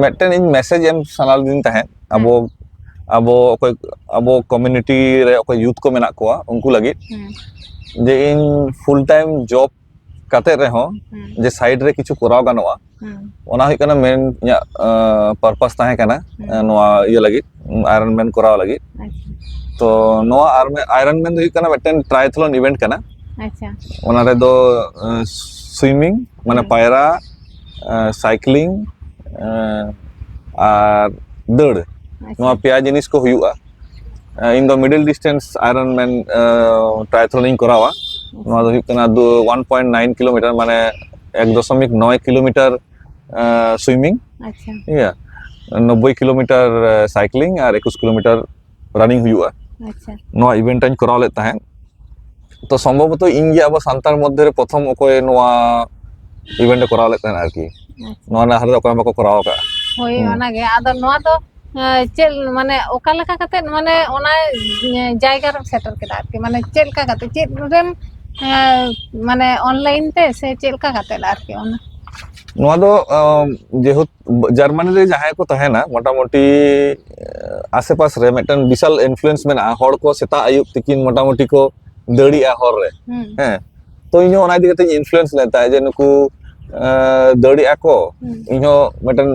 ᱢᱤᱫᱴᱮᱱ ᱤᱧ ᱢᱮᱥᱮᱡᱽ ᱮᱢ ᱥᱟᱱᱟ ᱞᱤᱫᱤᱧ ᱛᱟᱦᱮᱸᱫ ᱟᱵᱚ ᱟᱵᱚ ᱚᱠᱚᱭ ᱟᱵᱚ ᱠᱚᱢᱤᱱᱤᱴᱤ ᱨᱮ ᱚᱠᱚᱭ ᱭᱩᱛᱷ ᱠᱚ ᱢᱮᱱᱟᱜ ᱠᱚᱣᱟ ᱩᱱᱠᱩ ᱞᱟᱹᱜᱤᱫ ᱦᱩᱸ ᱡᱮ ᱤᱧ ᱯᱷᱩᱞ ᱴᱟᱭᱤᱢ ᱡᱚᱵ ᱠᱟᱛᱮᱫ ᱨᱮᱦᱚᱸ ᱦᱩᱸ ᱡᱮ ᱥᱟᱭᱤᱰ ᱨᱮ ᱠᱤᱪᱷᱩ ᱠᱚᱨᱟᱣ ᱜᱟᱱᱚᱜᱼᱟ ᱦᱩᱸ ᱚᱱᱟ ᱦᱩᱭᱩᱜ ᱠᱟᱱᱟ ᱢᱮᱱ ᱤᱧᱟᱹᱜ ᱯᱟᱨᱯᱟᱥ ᱛᱟᱦᱮᱸ ᱠᱟᱱᱟ ᱦᱩᱸ ᱮᱸ ᱱᱚᱣᱟ ᱤᱭᱟᱹ ᱞᱟᱹᱜᱤᱫ ᱟᱭᱨᱚᱱ ᱢᱮᱱ ᱠᱚᱨᱟᱣ ᱞᱟᱹᱜᱤᱫ ᱟᱪᱪᱷᱟ ᱛᱚ ᱱᱚᱣᱟ ᱟᱨ ᱟᱭᱨᱚᱱ ᱢᱮᱱ ᱫᱚ ᱦᱩᱭᱩᱜ ᱠᱟᱱᱟ ᱢᱤᱫᱴᱮᱱ ᱴᱨᱟᱭᱛᱷᱞᱚᱱ ᱤᱵᱷᱮᱱᱴ ᱠᱟᱱᱟ ᱟᱪᱪᱷᱟ ᱚᱱᱟ ᱨᱮᱫᱚ ᱥᱩᱭᱢᱤᱝ ᱢᱟᱱᱮ ᱦᱩᱸ ᱯᱟᱭᱨᱟ ᱥᱟᱭᱠᱞᱤᱝ ᱟᱨ ᱫᱟᱹᱲ ᱱᱚᱣᱟ ᱯᱮᱭᱟ ᱡᱤᱱᱤᱥ ᱠᱚ ᱦᱩᱭᱩᱜᱼᱟ ᱤᱧ ᱫᱚ ᱢᱤᱰᱤᱞ ᱰᱤᱥᱴᱮᱱᱥ ᱟᱭᱨᱚᱱ ᱢᱮᱱ ᱴᱨᱟᱭᱛᱷᱞᱚᱱᱤᱧ ᱠᱚᱨᱟᱣᱟ ᱱᱚᱣᱟ ᱫᱚ ᱦᱩᱭᱩᱜ ᱠᱟᱱᱟ ᱫᱩ ᱳᱣᱟᱱ ᱯᱚᱭᱮᱱᱴ ᱱᱟᱭᱤᱱ ᱠᱤᱞᱳᱢᱤᱴᱟᱨ ᱢᱟᱱᱮ ᱮᱠ ᱫᱚᱥᱚᱢᱤᱠ ᱱᱚᱭ ᱠᱤᱞᱳᱢᱤᱴᱟᱨ ᱥᱩᱭᱢᱤᱝ ᱤᱭᱟᱹ ᱱᱚᱵᱽᱵᱳᱭ ᱠᱤᱞᱳᱢᱤᱴᱟᱨ ᱥᱟᱭᱠᱞᱤᱝ ᱟᱨ ᱮᱠᱩᱥ ᱠᱤᱞᱳᱢᱤᱴᱟᱨ ᱨᱟᱱᱤᱝ ᱦᱩᱭᱩᱜᱼᱟ ᱟᱪᱪᱷᱟ ᱱᱚᱣᱟ ᱤᱵᱷᱮᱱᱴ ᱟᱹᱧ ᱠᱚᱨᱟᱣ ᱞᱮᱫ ᱛᱟᱦᱮᱸᱫ ᱛᱚ ᱥᱚᱢᱵᱷᱚᱵᱚᱛᱚ ᱤᱧ ᱜᱮ ᱟᱵᱚ ᱥᱟᱱᱛᱟᱲ ᱢᱚᱫᱽᱫᱷᱮ ᱨᱮ ᱯᱨᱚᱛᱷᱚᱢ ᱚᱠᱚᱭ ᱱᱚᱣᱟ ᱤᱵᱷᱮᱱᱴ ᱠᱚᱨᱟᱣ ᱞᱮᱫ ᱛᱟᱦᱮᱸᱫ ᱟᱨᱠᱤ ᱱᱚᱣᱟ ᱨᱮᱱᱟᱜ ᱦᱟᱨᱟ ᱫᱚ ᱚᱠᱚᱭ ᱵᱟᱠᱚ ᱠᱚᱨᱟᱣ ᱟᱠᱟᱫᱼᱟ ᱦᱳᱭ ᱚᱱᱟᱜᱮ ᱟᱫᱚ ᱱᱚᱣᱟ ᱫᱚ ᱪᱮᱫ ᱢᱟᱱᱮ ᱚᱠᱟ ᱞᱮᱠᱟ ᱠᱟᱛᱮᱫ ᱢᱟᱱᱮ ᱚᱱᱟ ᱡᱟᱭᱜᱟ ᱨᱮᱢ ᱥᱮᱴᱮᱨ ᱠᱮᱫᱟ ᱟᱨᱠᱤ ᱢᱟᱱᱮ ᱪᱮᱫ ᱞᱮᱠᱟ ᱠᱟᱛᱮᱫ ᱪᱮᱫ ᱨᱮᱢ ᱢᱟᱱᱮ ᱚᱱᱞᱟᱭᱤᱱ ᱛᱮ ᱥᱮ ᱪᱮᱫ ᱞᱮᱠᱟ ᱠᱟᱛᱮᱫ ᱟᱨᱠᱤ ᱚᱱᱟ ᱱᱚᱣᱟ ᱫᱚ ᱡᱮᱦᱮᱛᱩ ᱡᱟᱨᱢᱟᱱᱤ ᱨᱮ ᱡᱟᱦᱟᱸᱭ ᱠᱚ ᱛᱟᱦᱮᱱᱟ ᱢᱚᱴᱟᱢᱩᱴᱤ ᱟᱥᱮᱯᱟᱥ ᱨᱮ ᱢᱤᱫᱴᱟᱝ ᱵᱤᱥᱟᱞ ᱤᱱᱯᱷᱞᱩᱭᱮᱱᱥ ᱢᱮᱱᱟᱜᱼᱟ ᱦᱚᱲ ᱠᱚ ᱥᱮᱛᱟᱜ ᱟᱹᱭᱩᱵ ᱛᱤᱠᱤᱱ ᱢᱚᱴᱟᱢᱩᱴᱤ ᱠᱚ ᱫᱟᱹᱲᱤᱜᱼᱟ ᱦᱚᱨ ᱨᱮ ᱦᱮᱸ ᱛᱚ ᱤᱧᱦᱚᱸ ᱚᱱᱟ ᱤᱫᱤ ᱠᱟᱛᱮ ᱤᱱᱯᱷᱞᱩᱭᱮᱱᱥ ᱞᱮᱱ ᱛᱟᱦᱮᱸᱫ ᱡᱮ ᱱᱩᱠᱩ ᱫᱟᱹᱲᱤᱜᱼᱟ ᱠᱚ ᱤᱧᱦᱚᱸ ᱢᱤᱫᱴᱟᱝ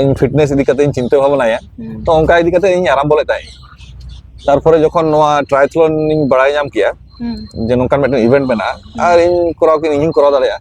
ᱤᱧ ᱯᱷᱤᱴᱱᱮᱥ ᱤᱫᱤ ᱠᱟᱛᱮ ᱤᱧ ᱪᱤᱱᱛᱟᱹ ᱵᱷᱟᱵᱱᱟᱭᱟ ᱛᱚ ᱚᱱᱠᱟ ᱤᱫᱤ ᱠᱟᱛᱮ ᱤᱧ ᱟᱨᱟᱢᱵᱚ ᱞᱮᱫ ᱛᱟᱦᱮᱸᱫ ᱛᱟᱨᱯᱚᱨᱮ ᱡᱚᱠᱷᱚᱱ ᱱᱚᱣᱟ ᱴᱨᱟᱭᱛᱷᱞᱚᱱ ᱤᱧ ᱵᱟᱲᱟᱭ ᱧᱟᱢ ᱠᱮᱜᱼᱟ ᱡᱮ ᱱᱚᱝᱠᱟᱱ ᱢᱤᱫᱴᱟᱝ ᱤᱵᱷᱮᱱᱴ ᱢᱮᱱᱟᱜᱼᱟ ᱟᱨ ᱤᱧ ᱠᱚᱨᱟᱣ ᱠᱤ ᱤᱧ ᱦᱚᱸᱧ ᱠᱚᱨᱟᱣ ᱫᱟᱲᱮᱭᱟᱜᱼᱟ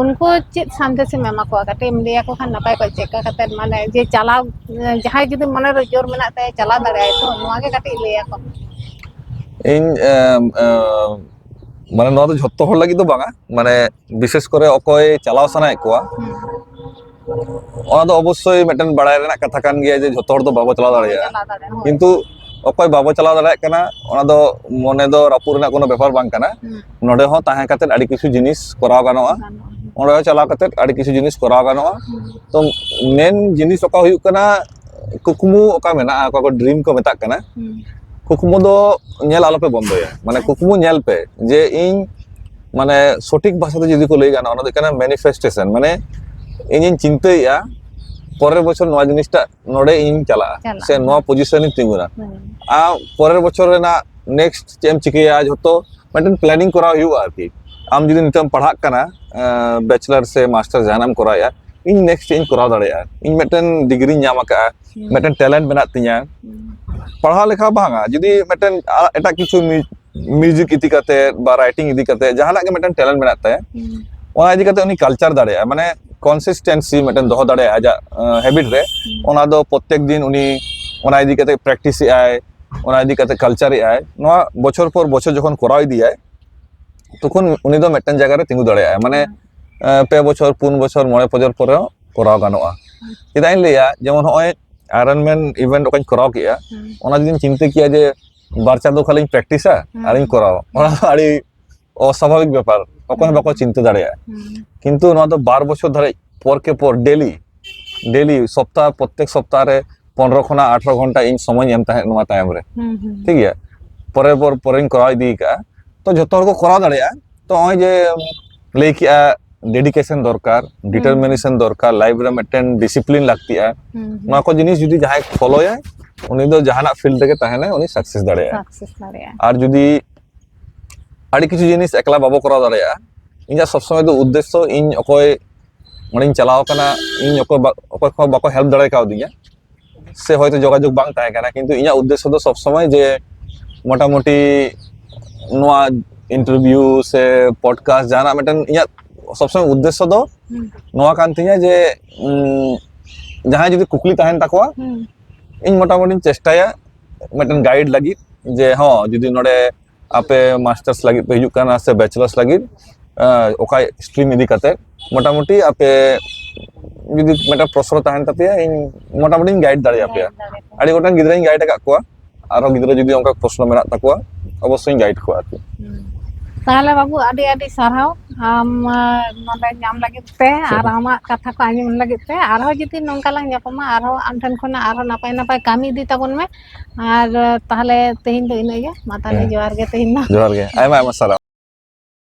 ᱩᱱᱠᱩ ᱪᱮᱫ ᱥᱟᱸᱫᱮᱥ ᱮᱢ ᱮᱢᱟ ᱠᱚᱣᱟ ᱠᱟᱹᱴᱤᱡ ᱮᱢ ᱞᱟᱹᱭ ᱟᱠᱚ ᱠᱷᱟᱱ ᱱᱟᱯᱟᱭ ᱠᱚᱜ ᱪᱮᱫ ᱞᱮᱠᱟ ᱠᱟᱛᱮ ᱢᱟᱱᱮ ᱡᱮ ᱪᱟᱞᱟᱣ ᱡᱟᱦᱟᱸᱭ ᱡᱩᱫᱤ ᱢᱚᱱᱮ ᱨᱮ ᱡᱳᱨ ᱢᱮᱱᱟᱜ ᱛᱟᱭᱟ ᱪᱟᱞᱟᱣ ᱫᱟᱲᱮᱭᱟᱜᱼᱟᱭ ᱛᱚ ᱱᱚᱣᱟ ᱜᱮ ᱠᱟᱹᱴᱤᱡ ᱞᱟᱹᱭ ᱟᱠᱚ ᱢᱮ ᱤᱧ ᱮᱸ ᱮᱸ ᱢᱟᱱᱮ ᱱᱚᱣᱟ ᱫᱚ ᱡᱷᱚᱛᱚ ᱦᱚᱲ ᱞᱟᱹᱜᱤᱫ ᱫᱚ ᱵᱟᱝᱟ ᱢᱟᱱᱮ ᱵᱤᱥᱮᱥ ᱠᱚᱨᱮ ᱚᱠᱚᱭ ᱪᱟᱞᱟᱣ ᱥᱟᱱᱟᱭᱮᱫ ᱠᱚᱣᱟ ᱚᱱᱟ ᱫᱚ ᱚᱵᱚᱥᱥᱳᱭ ᱢᱤᱫᱴᱮᱱ ᱵᱟᱲᱟᱭ ᱨᱮᱱᱟᱜ ᱠᱟᱛᱷᱟ ᱠᱟᱱ ᱜᱮᱭᱟ ᱡᱮ ᱡᱷᱚᱛᱚ ᱦᱚᱲ ᱫᱚ ᱵᱟᱵᱚ ᱪᱟᱞᱟᱣ ᱫᱟᱲᱮᱭᱟᱜᱼᱟ ᱠᱤᱱᱛᱩ ᱚᱠᱚᱭ ᱵᱟᱵᱚ ᱪᱟᱞᱟᱣ ᱫᱟᱲᱮᱭᱟᱜ ᱠᱟᱱᱟ ᱚᱱᱟ ᱫᱚ ᱢᱚᱱᱮ ᱫᱚ ᱨᱟᱹᱯᱩᱫ ᱨᱮᱱᱟᱜ ᱠᱳᱱᱳ ᱵᱮᱯᱟᱨ ᱵᱟᱝ ᱠᱟᱱᱟ ᱱᱚᱰᱮ ᱦᱚᱸ ᱛᱟᱦᱮᱸ ᱠᱟᱛᱮ ᱟᱹᱰᱤ ᱠᱤᱪᱷᱩ ᱡᱤᱱᱤᱥ ᱠᱚᱨᱟᱣ ᱜᱟᱱᱚᱜᱼᱟ ᱚᱸᱰᱮ ᱦᱚᱸ ᱪᱟᱞᱟᱣ ᱠᱟᱛᱮ ᱟᱹᱰᱤ ᱠᱤᱪᱷᱩ ᱡᱤᱱᱤᱥ ᱠᱚᱨᱟᱣ ᱜᱟᱱᱚᱜᱼᱟ ᱛᱚ ᱢᱮᱱ ᱡᱤᱱᱤᱥ ᱚᱠᱟ ᱦᱩᱭᱩᱜ ᱠᱟᱱᱟ ᱠᱩᱠᱢᱩ ᱚᱠᱟ ᱢᱮᱱᱟᱜᱼᱟ ᱚᱠᱟ ᱠᱚ ᱰᱨᱤᱢ ᱠᱚ ᱢᱮᱛᱟᱜ ᱠᱟᱱᱟ ᱠᱩᱠᱢᱩ ᱫᱚ ᱧᱮᱞ ᱟᱞᱚᱯᱮ ᱵᱚᱱᱫᱚᱭᱟ ᱢᱟᱱᱮ ᱠᱩᱠᱢᱩ ᱧᱮᱞ ᱯᱮ ᱡᱮ ᱤᱧ ᱢᱟᱱᱮ ᱥᱚᱴᱷᱤᱠ ᱵᱷᱟᱥᱟ ᱛᱮ ᱡᱩᱫᱤ ᱠᱚ ᱞᱟᱹᱭ ᱜᱟᱱᱚᱜᱼᱟ ᱚᱱᱟ ᱫᱚ ᱦᱩᱭᱩᱜ ᱠᱟᱱᱟ ᱢᱮᱱᱤᱯᱷᱮᱥᱴᱮᱥᱚᱱ ᱢᱟᱱᱮ ᱤᱧᱤᱧ ᱪᱤᱱᱛᱟᱹᱭᱮᱫᱼᱟ ᱯᱚᱨᱮᱨ ᱵᱚᱪᱷᱚᱨ ᱱᱚᱣᱟ ᱡᱤᱱᱤᱥᱴᱟ ᱱᱚᱰᱮ ᱤᱧᱤᱧ ᱪᱟᱞᱟᱜᱼᱟ ᱪᱟᱞᱟᱜᱼᱟ, ᱥᱮ ᱦᱮᱸ᱾ ᱱᱚᱣᱟ ᱯᱚᱡᱤᱥᱚᱱ ᱤᱧ ᱛᱤᱸᱜᱩᱱᱟ ᱦᱮᱸ ᱟᱨ ᱯᱚᱨᱮᱨ ᱵᱚᱪᱷᱚᱨ ᱨᱮᱱᱟᱜ ᱱᱮᱠᱥᱴ ᱪᱮᱫ ᱮᱢ ᱪᱤᱠᱟᱹᱭᱟ ᱡᱷᱚᱛᱚ ᱢᱤᱫᱴᱮᱱ ᱯᱞᱮᱱᱤᱝ ᱠᱚᱨᱟᱣ ᱦᱩᱭᱩᱜᱼᱟ ᱟᱨᱠᱤ ᱟᱢ ᱡᱩᱫᱤ ᱱᱤᱛᱚᱜ ᱮᱢ ᱯᱟᱲᱦᱟᱜ ᱠᱟᱱᱟ ᱵᱮᱪᱞᱟᱨ ᱥᱮ ᱢᱟᱥᱴᱟᱨ ᱡᱟᱦᱟᱱᱟᱜ ᱮᱢ ᱠᱚᱨᱟᱣᱮᱫᱼᱟ ᱤᱧ ᱱᱮᱠᱥᱴ ᱪᱮᱫ ᱤᱧ ᱠᱚᱨᱟᱣ ᱫᱟᱲᱮᱭᱟᱜᱼᱟ ᱤᱧ ᱢᱤᱫᱴᱮᱱ ᱰᱤᱜᱽᱨᱤᱧ ᱧᱟᱢ ᱟᱠᱟᱫᱼᱟ ᱦᱮᱸ ᱢᱤᱫᱴᱮᱱ ᱴᱮᱞᱮᱱᱴ ᱢᱮᱱᱟᱜ ᱛᱤᱧᱟ ᱦᱮᱸ ᱯᱟᱲᱦᱟᱣ ᱞᱮᱠᱷᱟᱱ ᱵᱟᱝᱟ ᱡᱩᱫᱤ ᱢᱤᱫᱴᱮᱱ ᱟ- ᱮᱴᱟᱜ ᱠᱤᱪᱷᱩ ᱢᱤউᱡᱤᱠ ᱤᱫᱤ ᱠᱟᱛᱮ ᱵᱟ ᱨᱟᱭᱴᱤᱝ ᱤᱫᱤ ᱠᱟᱛᱮ ᱡᱟᱦᱟᱱᱟᱜ ᱜᱮ ᱢᱤᱫᱴᱮᱱ ᱴᱮᱞᱮᱱᱴ ᱢᱮᱱᱟᱜ ᱛᱟᱭᱟ ᱚᱱᱟ ᱤᱫᱤ ᱠᱟᱛᱮ ᱩᱱᱤ ᱠᱟᱞᱪᱟᱨ ᱫᱟᱲᱮᱭᱟᱜᱼᱟ ᱢᱟᱱᱮ ᱠᱚᱱᱥᱤᱥᱴᱮᱱᱥᱤ ᱢᱤᱫᱴᱮᱱ ᱫᱚᱦᱚ ᱫᱟᱲᱮᱭᱟᱜᱼᱟ ᱟᱡᱟᱜ ᱦᱮᱵᱤᱴ ᱨᱮ ᱚᱱᱟ ᱫᱚ ᱯᱨᱚᱛᱮᱠ ᱫᱤᱱ ᱩᱱᱤ ᱚᱱᱟ ᱤᱫᱤ ᱠᱟᱛᱮ ᱯᱨᱮᱠᱴᱤᱥ ᱮᱫᱟᱭ ᱚᱱᱟ ᱤᱫᱤ ᱠᱟᱛᱮ ᱠᱟᱞᱪᱟᱨ ᱮᱫᱟᱭ ᱱᱚᱣᱟ ᱵᱚᱪᱷᱚᱨ ᱯᱚᱨ ᱵᱚᱪᱷᱚᱨ ᱡᱚᱠᱷᱚᱱ ᱠᱚᱨᱟᱣ ᱤᱫᱤᱭᱟᱭ ᱛᱚᱠᱷᱚᱱ ᱩᱱᱤ ᱫᱚ ᱢᱤᱫᱴᱮᱱ ᱡᱟᱭᱜᱟ ᱨᱮ ᱛᱤᱸᱜᱩ ᱫᱟᱲᱮᱭᱟᱜᱼᱟ ᱢᱟᱱᱮ ᱯᱮ ᱵᱚᱪᱷᱚᱨ ᱯᱩᱱ ᱵᱚᱪᱷᱚᱨ ᱢᱚᱬᱮ ᱵᱚᱪᱷᱚᱨ ᱯᱚᱨᱮ ᱠᱚᱨᱟᱣ ᱜᱟᱱᱚᱜᱼᱟ ᱪᱮᱫᱟᱜ ᱤᱧ ᱞᱟᱹᱭᱟ ᱡᱮᱢᱚᱱ ᱱᱚᱜᱼᱚᱭ ᱟᱭᱨᱚᱱ ᱢᱮᱱ ᱤᱵᱷᱮᱱᱴ ᱚᱠᱟᱧ ᱠᱚᱨᱟᱣ ᱠᱮᱫᱼᱟ ᱚᱱᱟ ᱡᱩᱫᱤᱧ ᱪᱤᱱᱛᱟᱹ ᱠᱮᱭᱟ ᱡᱮ ᱵᱟᱨ ᱪᱟᱸᱫᱳ ᱠᱷᱟᱱᱤᱧ ᱯᱨᱮᱠᱴᱤᱥᱟ ᱟᱨᱤᱧ ᱠᱚᱨᱟᱣᱟ ᱚᱱᱟ ᱫᱚ ᱟᱹᱰᱤ ᱚᱥᱟᱵᱷᱟᱵᱤᱠ ᱵᱮᱯᱟᱨ ᱚᱠᱚᱭ ᱦᱚᱸ ᱵᱟᱠᱚ ᱪᱤᱱᱛᱟᱹ ᱫᱟᱲᱮᱭᱟᱜᱼᱟ ᱠᱤᱱᱛᱩ ᱱᱚᱣᱟ ᱫᱚ ᱵᱟᱨ ᱵᱚᱪᱷᱚᱨ ᱫᱷᱟᱹᱨᱤᱡ ᱯᱚᱨ ᱠᱮ ᱯᱚᱨ ᱰᱮᱞᱤ ᱰᱮᱞᱤ ᱥᱚᱯᱛᱟᱦ ᱯᱨᱚᱛᱮᱠ ᱥᱚᱯᱛᱟᱦ ᱨᱮ ᱯᱚᱱᱨᱚ ᱠᱷᱚᱱᱟᱜ ᱟᱴᱷᱨᱚ ᱜᱷᱚᱱᱴᱟ ᱤᱧ ᱥᱚᱢᱚᱭᱤᱧ ᱮᱢ ᱛᱟᱦᱮᱸᱫ ᱱᱚᱣᱟ ᱛᱟᱭᱚᱢ ᱨᱮ ᱴᱷᱤᱠ ᱜᱮᱭᱟ ᱯᱚᱨᱮ ᱯᱚᱨ ᱯᱚᱨᱮᱧ ᱠᱚᱨᱟᱣ ᱤᱫᱤ ᱠᱟᱜᱼᱟ ᱛᱚ ᱡᱚᱛᱚ ᱦᱚᱲ ᱠᱚ ᱠᱚᱨᱟᱣ ᱫᱟᱲᱮᱭᱟᱜᱼᱟ ᱛᱚ ᱱᱚᱜᱼᱚᱭ ᱡᱮ ᱞᱟᱹᱭ ᱠᱮᱜᱼᱟ ᱰᱮᱰᱤᱠᱮᱥᱚᱱ ᱫᱚᱨᱠᱟর ᱰᱤᱴᱟᱨᱢᱤᱱᱮᱥᱚᱱ ᱫᱚᱨᱠᱟর ᱞᱟᱭᱤᱯᱷ ᱨᱮ ᱢᱤᱫᱴᱮᱱ ᱰᱤᱥᱤᱯᱞᱤᱱ ᱞᱟᱹᱠᱛᱤᱜᱼᱟ ᱱᱚᱣᱟ ᱠᱚ ᱡᱤᱱᱤᱥ ᱡᱩᱫᱤ ᱡᱟᱦᱟᱸᱭ ᱯᱷᱚᱞᱚᱭᱟᱭ ᱩᱱᱤ ᱫᱚ ᱡᱟᱦᱟᱱᱟᱜ ᱯᱷᱤᱞᱰ ᱨᱮᱜᱮ ᱛᱟᱦᱮᱱᱟᱭ ᱩᱱᱤ ᱥᱟᱠᱥᱮᱥ ᱫᱟᱲᱮᱭᱟᱜᱼᱟ ᱥᱟᱠᱥᱮᱥ ᱫᱟᱲᱮᱭᱟᱜᱼᱟ ᱟᱨ ᱡᱩᱫᱤ ᱟᱹᱰᱤ ᱠᱤᱪᱷᱩ ᱡᱤᱱᱤᱥ ᱮᱠᱞᱟ ᱵᱟᱵᱚ ᱠᱚᱨᱟᱣ ᱫᱟᱲᱮᱭᱟᱜᱼᱟ ᱤᱧᱟᱹᱜ ᱥᱚᱵ ᱥᱚᱢᱚᱭ ᱫᱚ ᱩᱫᱽᱫᱮᱥᱥᱚ ᱤᱧ ᱚᱠᱚᱭ ᱚᱸᱰᱮᱧ ᱪᱟᱞᱟᱣ ᱠᱟᱱᱟ ᱤᱧ ᱚᱠᱚᱭ ᱚᱠᱚᱭ ᱠᱚ ᱵᱟᱠᱚ ᱦᱮᱞᱯ ᱫᱟᱲᱮ ᱠᱟᱣᱫᱤᱧᱟ ᱥᱮ ᱦᱚᱭᱛᱳ ᱡᱳᱜᱟᱡᱳᱜᱽ ᱵᱟᱝ ᱛᱟᱦᱮᱸ ᱠᱟᱱᱟ ᱠᱤᱱᱛᱩ ᱤᱧᱟᱹᱜ ᱩᱫᱽᱫᱮᱥᱥᱚ ᱫᱚ ᱥᱚᱵ ᱥᱚᱢᱚᱭ ᱡᱮ ᱢᱚᱴᱟᱢᱩᱴᱤ ᱱᱚᱣᱟ ᱤᱱᱴᱟᱨᱵᱷᱤᱭᱩ ᱥᱮ ᱯᱚᱰᱠᱟᱥᱴ ᱡᱟᱦᱟᱱᱟᱜ ᱢᱤᱫᱴᱮᱱ ᱤᱧᱟᱹᱜ ᱥᱚᱵ ᱥᱚᱢᱚᱭ ᱩᱫᱽᱫᱮᱥᱥᱚ ᱫᱚ ᱱᱚᱣᱟ ᱠᱟᱱ ᱛᱤᱧᱟ ᱡᱮ ᱡᱟᱦᱟᱸᱭ ᱡᱩᱫᱤ ᱠᱩᱠᱞᱤ ᱛᱟᱦᱮᱱ ᱛᱟᱠᱚᱣᱟ ᱤᱧ ᱢᱚᱴᱟᱢᱩᱴᱤᱧ ᱪᱮᱥᱴᱟᱭᱟ ᱢᱤᱫᱴᱮᱱ ᱜᱟᱭᱤᱰ ᱞᱟᱹᱜᱤᱫ ᱡᱮ ᱦᱚᱸ ᱡᱩᱫᱤ ᱱᱚᱰᱮ ᱟᱯᱮ ᱢᱟᱥᱴᱟᱨᱥ ᱞᱟᱹᱜᱤᱫ ᱯᱮ ᱦᱤᱡᱩᱜ ᱠᱟᱱᱟ ᱥᱮ ᱵᱮᱪᱮᱞᱟᱨᱥ ᱞᱟᱹᱜᱤᱫ ᱚᱠᱟ ᱥᱴᱨᱤᱢ ᱤᱫᱤ ᱠᱟᱛᱮ ᱢᱚᱴᱟᱢᱩᱴᱤ ᱟᱯᱮ ᱡᱩᱫᱤ ᱢᱤᱫᱴᱟᱝ ᱯᱨᱚᱥᱨᱚ ᱛᱟᱦᱮᱱ ᱛᱟᱯᱮᱭᱟ ᱤᱧ ᱢᱚᱴᱟᱢᱩᱴᱤᱧ ᱜᱟᱭᱤᱰ ᱫᱟᱲᱮᱭᱟᱯᱮᱭᱟ ᱟᱹᱰᱤ ᱜᱚᱴᱟᱝ ᱜᱤᱫᱽᱨᱟᱹᱧ ᱜᱟᱭᱤᱰ ᱟᱠᱟᱫ ᱠᱚᱣᱟ ᱟᱨᱦᱚᱸ ᱜᱤᱫᱽᱨᱟᱹ ᱡᱩᱫᱤ ᱚᱱᱠᱟ ᱯᱨᱚᱥᱱᱚ ᱢᱮᱱᱟᱜ ᱛᱟᱠᱚᱣᱟ ᱚᱵᱚᱥᱥᱳᱭ ᱜᱟᱭᱤᱰ ᱠᱚᱣᱟ ᱟᱨᱠᱤ ᱛᱟᱦᱚᱞᱮ ᱵᱟᱹᱵᱩ ᱟᱹᱰᱤ ᱟᱹᱰᱤ ᱥᱟᱨᱦᱟᱣ ᱟᱢ ᱱᱚᱰᱮ ᱧᱟᱢ ᱞᱟᱹᱜᱤᱫ ᱛᱮ ᱟᱨ ᱟᱢᱟᱜ ᱠᱟᱛᱷᱟ ᱠᱚ ᱟᱸᱡᱚᱢ ᱞᱟᱹᱜᱤᱫ ᱛᱮ ᱟᱨᱦᱚᱸ ᱡᱩᱫᱤ ᱱᱚᱝᱠᱟ ᱞᱟᱝ ᱧᱟᱯᱟᱢᱟ ᱟᱨᱦᱚᱸ ᱟᱢ ᱴᱷᱮᱱ ᱠᱷᱚᱱᱟᱜ ᱟᱨᱦᱚᱸ ᱱᱟᱯᱟᱭ ᱱᱟᱯᱟᱭ ᱠᱟᱹᱢᱤ ᱤᱫᱤ ᱛᱟᱵᱚᱱ ᱢᱮ ᱟᱨ ᱛᱟᱦᱚᱞᱮ ᱛᱮᱦᱮᱧ ᱫᱚ ᱤᱱᱟᱹᱜᱮ ᱢᱟ ᱛᱟᱦᱚᱞᱮ ᱦᱮᱸ ᱡᱚᱦᱟᱨ ᱜᱮ ᱛᱮᱦᱮᱧ ᱫᱚ ᱡᱚᱦᱟᱨ ᱜᱮ ᱟᱭᱢᱟ ᱟᱭᱢᱟ ᱥᱟᱨᱦᱟᱣ